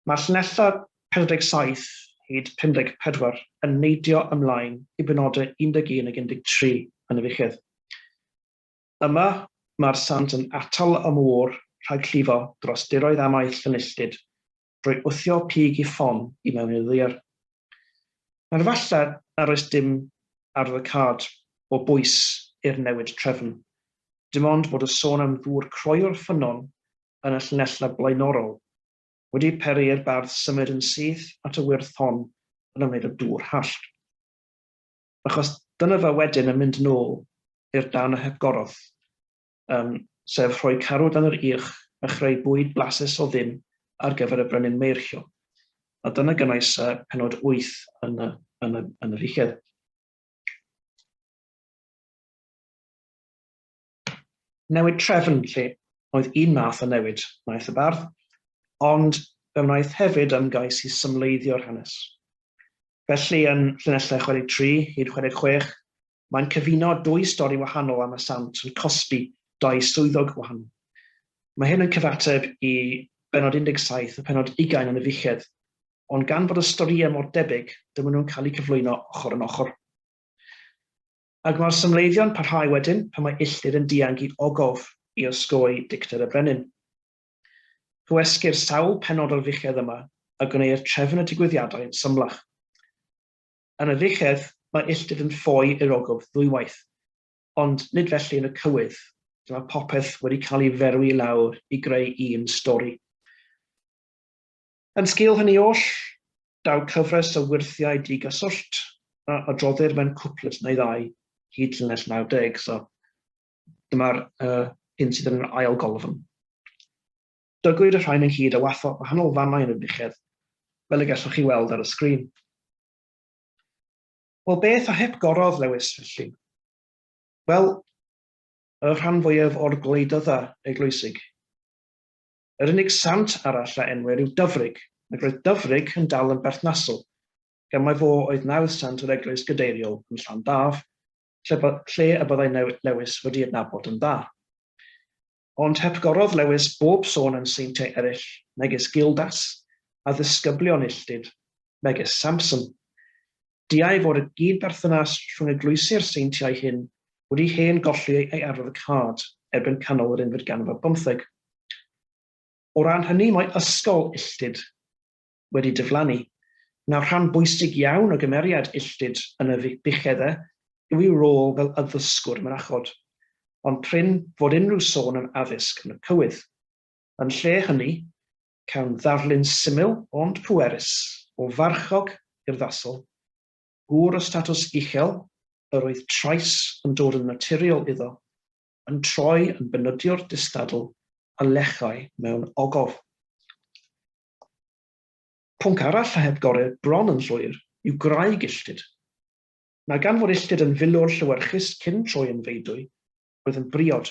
Mae llinellau 47 hyd 54 yn neidio ymlaen i benodau 11 ac 13 yn y fichedd. Yma, mae'r sant yn atal y môr rhag llifo dros diroedd amaeth Llanilltud drwy wthio pig i ffon i mewn i'r ddaear. Nawr falle nad oes dim ar The Card o bwys i'r newid trefn, dim ond bod y sôn am ddŵr croy'r ffynnon yn y llinellau blaenorol wedi peri i'r bardd symud yn syth at y wyrth hon yn ymwneud â dŵr hallt. Achos dyna fe wedyn yn mynd nôl i'r dan a hepgoroth. um, sef rhoi carw dan yr irch a chreu bwyd blasus o ddim ar gyfer y brenin Meirchio. A dyna gynnwys uh, penod 8 yn y, yn y, yn y fiched. Newid trefn lle oedd un math o newid wnaeth y bardd, ond fe wnaeth hefyd ymgais i symleiddio'r hanes. Felly yn llinellau 63 hyd 66, Mae'n cyfuno dwy stori wahanol am y sant yn cosbi dau swyddog gwahanol. Mae hyn yn cyfateb i bennod 17 a phennod 20 yn y fichedd, ond gan fod y storïau mor debyg, dyma nhw'n cael eu cyflwyno ochr yn ochr. Ac mae'r symleiddio'n parhau wedyn pan mae Illdir yn dianc i ogof i osgoi dicter y brenin. Cywesgir sawl pennod o'r fichedd yma a gwneir trefn y digwyddiadau yn symlach. Yn y llechedd, mae illtud yn ffoi i'r ogof ddwywaith, ond nid felly yn y cywydd, lle mae popeth wedi cael ei ferwi i lawr i greu un stori. Yn sgil hynny oll, daw cyfres o wyrthiau digaswllt a adroddir mewn cwpled neu ddau hyd llinell 90, so dyma'r uh, hyn sydd yn yr ail golofn. Dygwyd y rhain ynghyd a watho gwahanol fannau yn y buchedd, fel y gellwch chi weld ar y sgrin. Wel, beth a hep gorodd Lewis felly? Wel, y rhan fwyaf o'r gwleidydda eglwysig. Yr unig sant arall a enwer yw Dyfrig, ac roedd Dyfrig yn dal yn berthnasol, gan mai fo oedd nawdd sant yr eglwys gadeiriol yn Llandaf, lle, lle y byddai Lewis wedi adnabod yn dda. Ond hepgorodd Lewis bob sôn am seintiau eraill, megis Gildas, a ddisgyblion illtud, megis Samson. Diau fod y gyd-berthynas rhwng eglwysi'r seintiau hyn wedi hen golli ei arwyddocâd erbyn canol yr unfed ganrif ar bymtheg. O ran hynny mae ysgol illtud, wedi diflannu. Nawr, rhan bwysig iawn o gymeriad Illtyd yn y Buchedde yw ei rôl fel addysgwr mynachod, ond prin fod unrhyw sôn am addysg yn y cywydd. Yn lle hynny, cawn ddarlun syml ond pwerus o farchog urddasol, gŵr o statws uchel yr oedd trais yn dod yn naturiol iddo, yn troi yn benydiwr distadl a lechai mewn ogof. Pwnc arall a heb gore bron yn llwyr yw gwraig illtud. Mae gan fod illtud yn filwr llewyrchus cyn troi yn feudwy, roedd yn briod.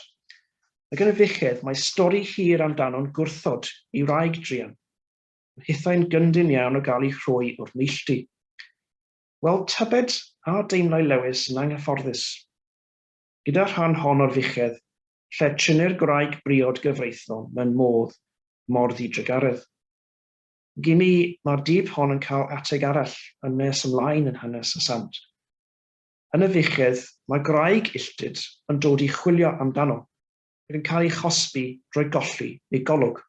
Mae gan y fuchedd mae stori hir amdano'n gwrthod ei wraig druan, yn hithau'n gyndyn iawn o gael ei rhoi o'r neilltu. Wel, tybed a deimlai Lewis yn anghyfforddus gyda'r rhan hon o'r fuchedd lle trynir gwraig briod gyfreithlon mewn modd mor ddidrugaredd. Ag imi, mae'r dyb hon yn cael ateg arall yn nes ymlaen yn hanes y sant. Yn y fuchedd, mae gwraig illtud yn dod i chwilio amdano, ac yn cael ei chosbi drwy golli ei golwg.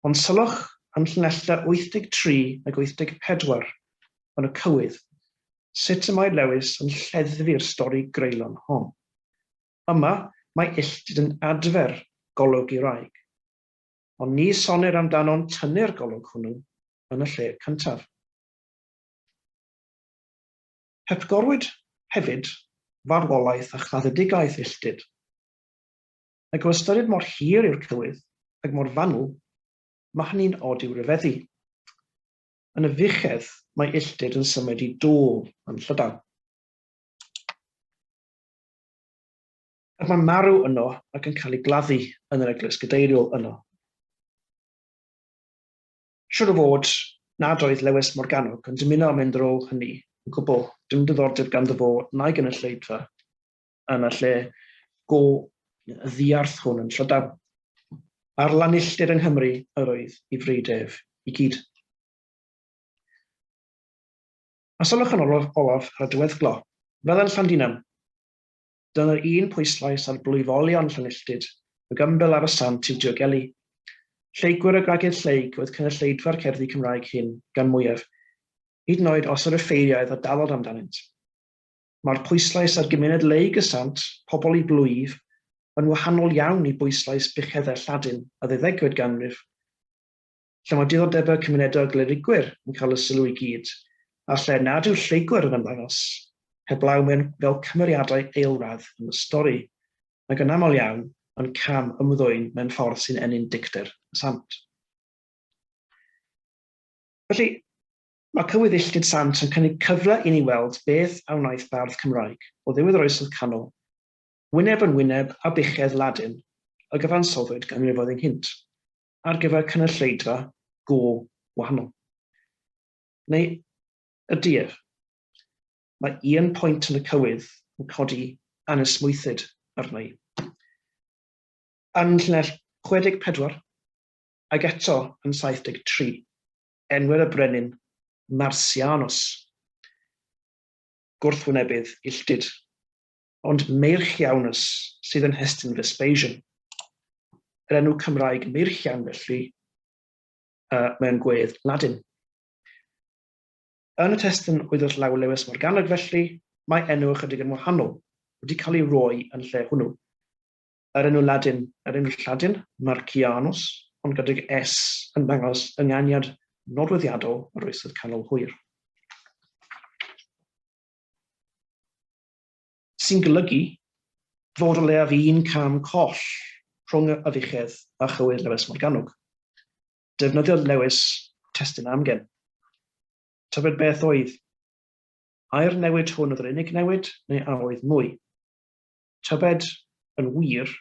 Ond sylwch ym llinellau 83 ag 84 yn y cywydd sut y mae Lewis yn lleddfu'r stori greulon hon. Yma, mae illtud yn adfer golwg i wraig. Ond ni sonir amdano'n tynnu'r golwg hwnnw yn y lle cyntaf. Hepgorwyd hefyd farwolaeth a chaddedigaeth illtud. Ac o ystyried mor hir yw'r cywydd, ac mor fanwl, mae hynny'n od i'w ryfeddu. Yn y fuchedd, mae illtud yn symud i dôl yn llydan. Ac mae'n marw yno ac yn cael ei gladdu yn yr eglwys gadeiriol yno. Siwr o fod nad oedd Lewis Morgannwg yn dymuno am mynd ar ôl hynny yn gwbl, dim diddordeb ganddo fo na'i gynulleidfa yn y lle go ddiarth hwn yn Llydaw. A'r lanilltir yng Nghymru yr oedd i freidd ef i gyd. A sylwch yn olaf, olaf ar y diweddglo, fel yn Llandinam! Dyna'r un pwyslais ar blwyfolion Llanilltud, y gymbel ar y sant i'w diogelu. Lleygwyr y gwragedd lleyg oedd cynulleidfa'r cerddi Cymraeg hyn, gan mwyaf, hyd yn oed os yr offeiriaid a dalodd amdanynt. Mae'r pwyslais ar gymuned leyg y sant, pobl i blwyf, yn wahanol iawn i bwyslais buchedde Lladin y ddeuddegfed ganrif. lle mae diddordebau cymunedol Glynigwyr yn cael y sylw i gyd, a lle nad yw Lleygwyr yn ymddangos, heblaw mewn fel cymeriadau eilradd yn y stori, nag yn aml iawn yn cam ymddwyn mewn ffordd sy'n ennyn dicter y sant. Felly, mae Cywydd Illtud Sant yn cynnig cyfle i ni weld beth a wnaeth bardd Cymraeg o ddiwedd yr Oesoedd Canol, wyneb yn wyneb â buchedd Ladin y gyfansoddwyd ganrifoedd ynghynt. ar gyfer cynulleidfa go wahanol. Neu ydy ef? Mae un pwynt yn y cywydd yn codi anesmwythyd arna i. Yn llinell 64, ac eto yn 73, enwer y brenin Marsianos, gwrthwynebydd Illtyd. ond Meirchiaunus sydd yn Heston Vespasian. Yr enw Cymraeg Meirchian felly uh, mewn gwedd Ladin. Yn y testyn oedd wrth law Lewis Morganog felly, mae enw ychydig yn wahanol wedi cael ei roi yn lle hwnnw. Yr enw Ladin, yr enw Lladin, Marcianus, ond gydag S yn dangos ynganiad nodweddiadol yr oesoedd canol hwyr. sy'n golygu fod o leiaf un cam coll rhwng y afiechedd a chywydd Lewis Morgannwg. Defnyddiodd Lewis testun amgen. Tybed beth oedd? Ai'r newid hwn oedd yr unig newid, neu a oedd mwy? Tybed, yn wir,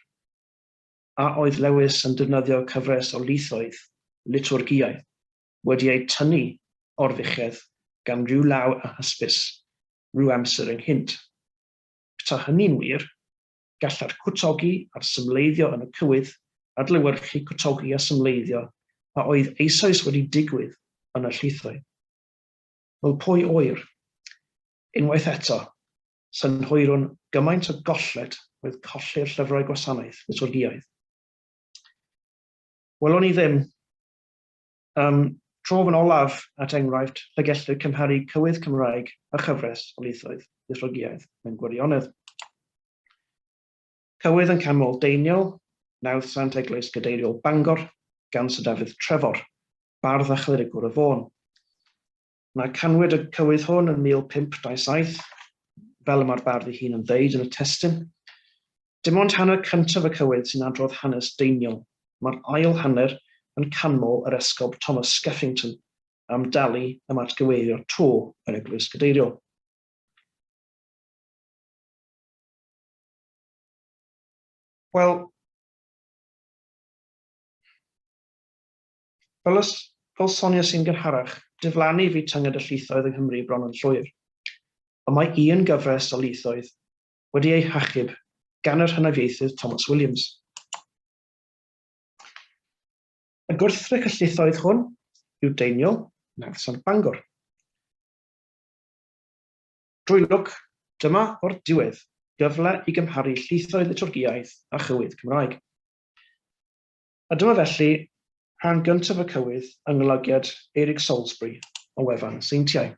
a oedd Lewis yn defnyddio cyfres o lithoedd, litwrgiau, wedi eu tynnu o'r fuchedd gan ryw law a hysbys, ryw amser ynghynt. Petae hynny'n wir, gallai'r cwtogi a'r symleiddio yn y cywydd adlewyrchu cwtogi a symleiddio a oedd eisoes wedi digwydd yn y llithoedd. Fel pwy a ŵyr? Unwaith eto, synhwyrwn gymaint o golled oedd colli'r llyfrau gwasanaeth liturgïaidd. Welwn ni ddim Am trof yn olaf, at enghraifft, lle gellir cymharu cywydd Cymraeg a chyfres o lithroedd Lithrogiaeth mewn gwirionedd. Cywydd yn canmol Deiniol, Nawdd Sant Eglwys Gadeiriol Bangor, gan Sir Dafydd Trefor, bardd a chlirigwr y Fôn. Mae canwyd y cywydd hwn yn 1527, fel y mae'r bardd ei hun yn ddeud yn y testun. Dim ond hanner cyntaf y cywydd sy'n adrodd hanes deiniol, mae'r ail hanner yn canmol yr Esgob Thomas Skeffington am dalu am atgyweirio to yr Eglwys Gadeiriol. Wel, Fel y fel soniais i'n gynharach, diflannu fu tynged y llithoedd yng Nghymru bron yn llwyr. Ond mae un gyfres o lithdoedd wedi eu hachub gan yr hynafiaethydd Thomas Williams. A gwrthrych y llithoedd hwn yw Deiniol, Nawddsant Bangor. Drwy lwc, dyma o'r diwedd gyfle i gymharu llithoedd Liturgiaidd a chywydd Cymraeg. A dyma felly rhan gyntaf y cywydd yng nglygiad Eirig Salisbury o wefan Seintiau.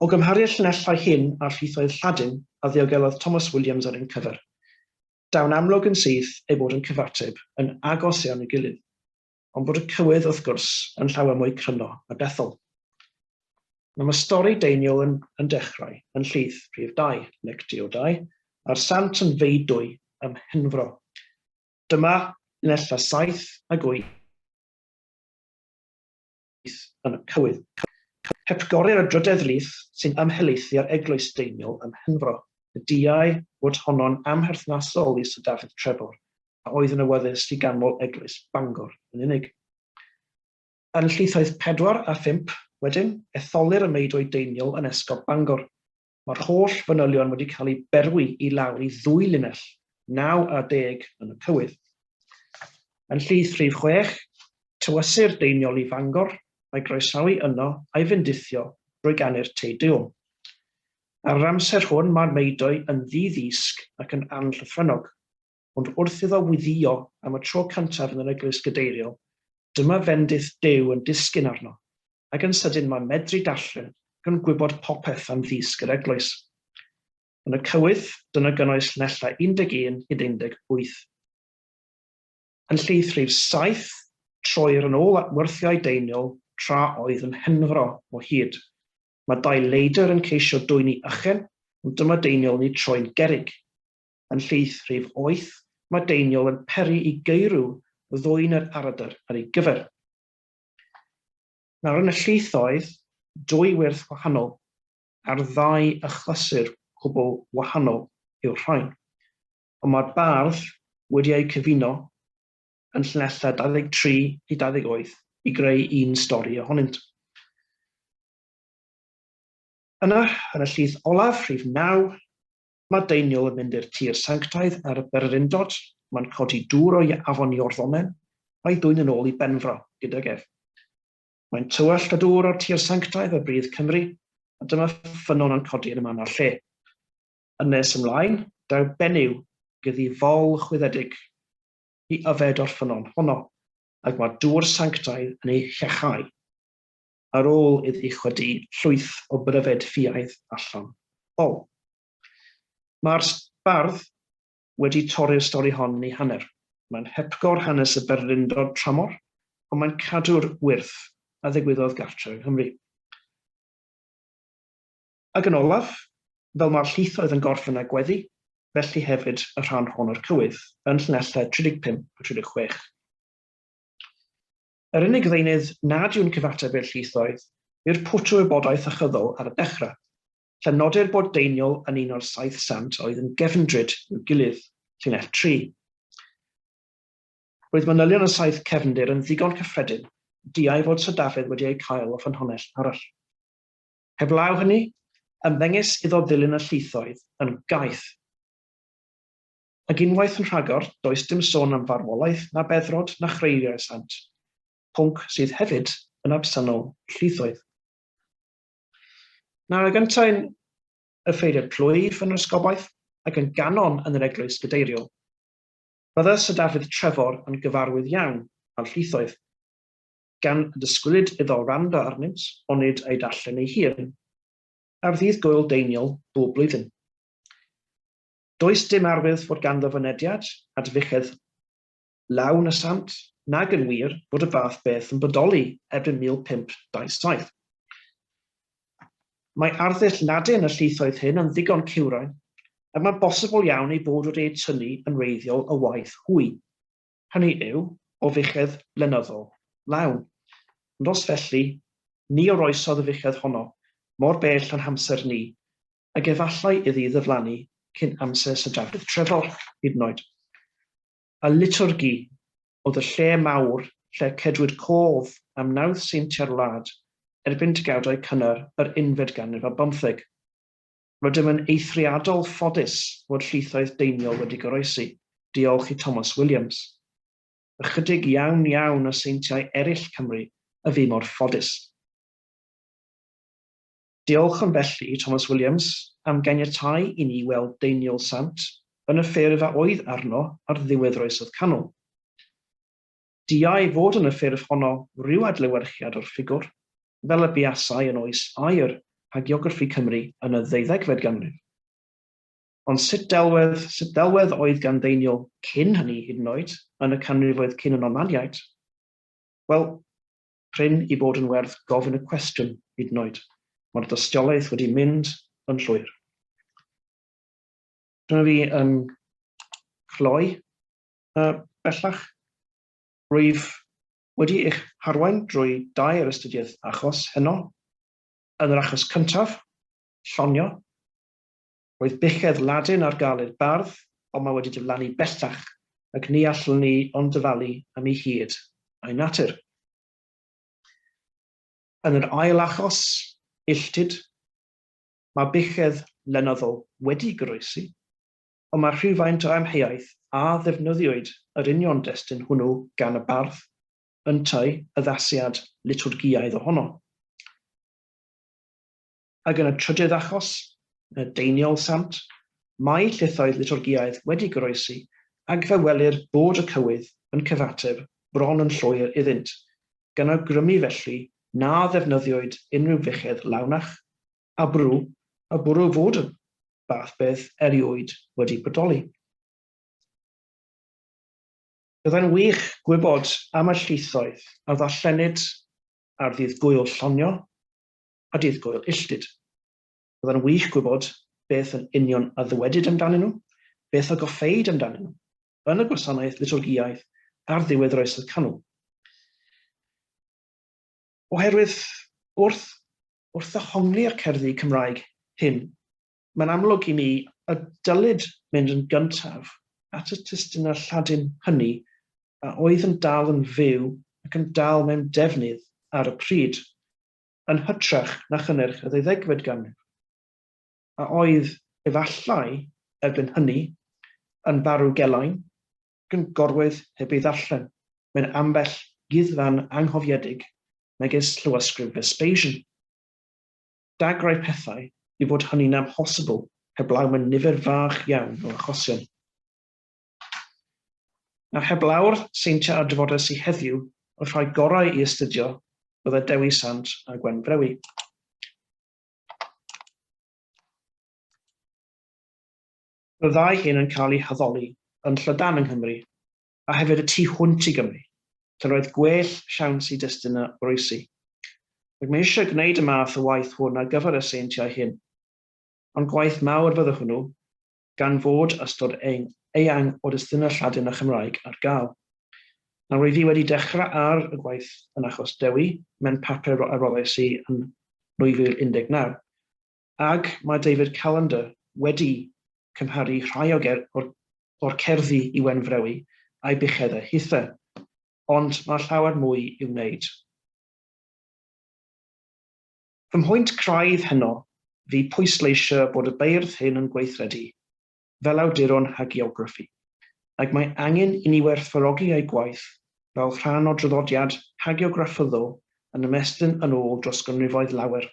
O gymhariaeth llinellau hyn â'r rhithoedd Lladin a ddiogelodd Thomas Williams ar ein cyfer, daw'n amlwg yn syth ei bod yn cyfateb yn agos iawn i'w gilydd. ond bod y cywydd, wrth gwrs, yn llawer mwy cryno a dethol. Mae mae stori Deiniol yn, yn dechrau yn llith prif dau, nec diodau, a'r sant yn feidwy ym Mhenfro. Dyma linella 7 ag 8 Llys yn y Cywydd. Hepgorir y drydedd lys sy'n ymhelaethu ar eglwys Deiniol ym Mhenfro, y diau fod honno'n amherthnasol lys y Dafydd Trebor, a oedd yn awyddus i ganmol eglwys Bangor yn unig. Yn llysoedd pedwar a phump, wedyn, etholir y meidoedd Deiniol yn esgob Bangor. Mae'r holl fanylion wedi cael eu berwi i lawr i ddwy linell, 9 a 10 yn y cywydd. Yn llys rhif chwech, tywysir deiniol i Fangor, a'i groesawu yno a'i fendithio drwy ganu'r Te Deum. Ar yr amser hwn mae'r Meidoe yn ddi-ddisg ac yn anllythrennog. ond wrth iddo weddïo am y tro cyntaf yn yr eglwys gadeiriol, dyma fendith Duw yn disgyn arno, ac yn sydyn mae medru darllen ac yn gwybod popeth am ddysg yr eglwys. Yn y cywydd, dyna gynnwys llinellau 11 hyd 18. Yn lleith rhif 7, troir yn ôl at wyrthiau deiniol tra oedd yn henfro o hyd. Mae dau leidr yn ceisio dwyni ychen, ond dyma deiniol yn eu troi'n gerrig. yn llith rhif oeth, mae deiniol yn peri i geirw ddwyn yr aradr ar ei gyfer. Nawr yn y llith oedd dwy wyrth wahanol ar ddau achlysur cwbl wahanol yw'r rhain, ond mae'r bardd wedi eu cyfuno yn llinellau 23 i 28 i greu un stori ohonynt. Yna, yn y llith olaf, rhif 9, Mae Deiniol yn mynd i'r tir sanctaidd ar y bererindod, mae'n codi dŵr o afon Iorddonen, a'i dwyn yn ôl i Benfro gydag ef. Mae'n tywallt y dŵr o'r tir sanctaidd a bridd Cymru, a dyma ffynnon yn codi yn y man a'r lle. Yn nes ymlaen, daw benyw gydi fol chwyddedig i yfed o'r ffynnon honno, ac mae dŵr sanctaidd yn ei llechau. ar ôl iddi chwydu llwyth o bryfed ffiaidd allan o. Mae'r bardd wedi torri'r stori hon yn ei hanner. Mae'n hepgor hanes y bererindod tramor, ond mae'n cadw'r wyrth a ddigwyddodd gartre yng Nghymru. Ac yn olaf, fel mae'r llwythoedd yn gorffen â gweddi, felly hefyd y rhan hon o'r cywydd, yn llinellau 35 a 36. Yr unig ddeunydd nad yw'n cyfateb i'r llwythoedd yw'r pwtw wybodaeth ychyddol ar y dechrau, lle nodir bod Deiniol yn un o'r saith sant oedd yn gefndryd i'w gilydd, llinell tri. Roedd manylion y saith cefndir yn ddigon cyffredin i diau fod Sir Dafydd wedi eu cael o ffynhonnell arall. Heblaw hynny, ymddengys iddo ddilyn y llwythoedd yn gaeth. Ac unwaith yn rhagor, does dim sôn am farwolaeth na beddrod na chreiriau sant, pwnc sydd hefyd yn absennol llwythoedd. Nawr ag yntau'n offeiriad plwyf yn yr ysgobaeth ac yn ganon yn yr eglwys gadeiriol, bydde Sir Dafydd Trefor yn gyfarwydd iawn â'r llwythoedd, gan y disgwylid iddo wrando arnynt onid a'i darllen ei hun ar ddydd Gŵyl Deiniol bob blwyddyn. Does dim arwydd fod ganddo fynediad at fuchedd lawn y sant, nag yn wir fod y fath beth yn bodoli erbyn 1527. Mae arddull Ladin y llwythoedd hyn yn ddigon cywrain, ac mae'n bosibl iawn ei bod wedi eu tynnu yn wreiddiol o waith hwy, hynny yw, o fuchedd lenyddol lawn. Ond os felly, ni oroesodd y fuchedd honno mor bell yn hamser ni, ac efallai iddi ddiflannu cyn amser Sir Dafydd Trefor hyd yn oed. A Litorgi oedd y lle mawr lle cedwid cof am wnawd seintiau'r wlad erbyn degawdau cynnar yr unfed ganrif ar bymtheg. Rydym yn eithriadol ffodus fod llwythoedd deiniol wedi goroesi, diolch i Thomas Williams. Ychydig iawn iawn o seintiau eraill Cymru y fu mor ffodus. Diolchwn felly i Thomas Williams am ganiatáu i ni weld Deiniol Sant yn y ffurf a oedd arno ar ddiwedd yr Oesoedd Canol. Diau fod yn y ffurf honno ryw adlewyrchiad o'r ffigwr, fel y buasai yn oes aur hagiograffi Cymru yn y ddeuddegfed ganrif. Ond sut delwedd, sut ddelwedd oedd gan Ddeiniol cyn hynny hyd yn oed, yn y canrifoedd cyn y Normaniaid? Wel, prin i bod yn werth gofyn y cwestiwn hyd yn oed. Mae'r dystiolaeth wedi mynd yn llwyr. Dyna fi yn cloi uh, bellach. Rwyf wedi eich harwain drwy dair astudiaeth achos heno. Yn yr achos cyntaf, llonio, Roedd buchedd Ladin ar gael i'r bardd, ond mae wedi diflannu bellach, ac ni allwn ni ond dyfalu am ei hyd a'i natur. Yn yr ail achos, illtud, mae buchedd lenyddol wedi goroesi, ond mae rhywfaint o amheuaeth a ddefnyddiwyd yr union destun hwnnw gan y bardd, yntau addasiad litwrgïaidd ohono. Ac yn y trydydd achos, yn y Deiniol Sant, mae llythoedd litorgiaidd wedi goroesi, ac fe welir bod y cywydd yn cyfateb bron yn llwyr iddynt, gan awgrymu felly na ddefnyddiwyd unrhyw fechedd lawnach, a bwrw, a bwrw fod y fath beth erioed wedi bodoli. Byddai'n wych gwybod am y llythoedd a ddarllenid ar ddydd Gŵyl Llonio, a Dydd Gŵyl Illtud. Byddai'n wych gwybod beth yn union a ddywedid amdanyn nhw, beth a goffeid amdanyn nhw, yn y gwasanaeth litorgïaidd ar ddiwedd yr Oesoedd Canol. Oherwydd wrth, wrth ddehongli'r cerddi Cymraeg hyn, mae'n amlwg i mi y dylid mynd yn gyntaf at y testunau Lladin hynny a oedd yn dal yn fyw ac yn dal mewn defnydd ar y pryd. yn hytrach na chynnyrch y ddeuddegfed ganrif, a oedd efallai, erbyn hynny, yn farw gelain, gyngorwyd heb ei ddarllen mewn ambell guddfan anghofiedig megis llywysgrif Vespasian. Dagrau pethau i fod hynny'n amhosibl heblaw mewn nifer fach iawn o achosion. Nawr heblaw'r seintiau a drafodes i heddiw, y rhai gorau i astudio bydde Dewi Sant a Gwen Brewi. Mae'r ddau hyn yn cael eu haddoli yn Llydan yng Nghymru, a hefyd y tu hwnt i Gymru, lle roedd gwell siawns i destun a oroesi. Ac mae eisiau gwneud y math o waith hwn ar gyfer y seintiau hyn. Ond gwaith mawr fydde hwnnw, gan fod ystod eang o destunau Lladin a Chymraeg ar gael. Nawr rwy fi wedi dechrau ar y gwaith yn achos Dewi, mewn papur a roddais i yn 2019, ac mae David Callender wedi cymharu rhai o'r cerddi i Wen Frewi a'i buchedau hithe, ond mae llawer mwy i'w wneud. Fy mhwynt craidd heno fu pwysleisio bod y beirdd hyn yn gweithredu fel awduron hagiograffi, ac mae angen i ni werthfawrogi eu gwaith fel rhan o draddodiad hagiografyddol yn ymestyn yn ôl dros ganrifoedd lawer.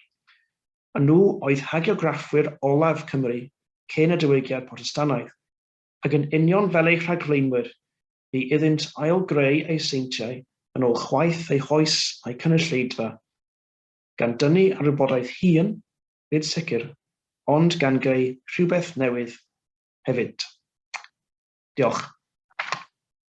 A nhw oedd hagiograffwyr olaf Cymru cyn y Diwygiad Protestannaidd, ac yn union fel eu rhagflaenwyr, bu iddynt ail-greu eu seintiau yn ôl chwaeth eu hoes a'u cynulleidfa. gan dynnu ar wybodaeth hŷn, nid sicr, ond gan greu rhywbeth newydd hefyd. Diolch.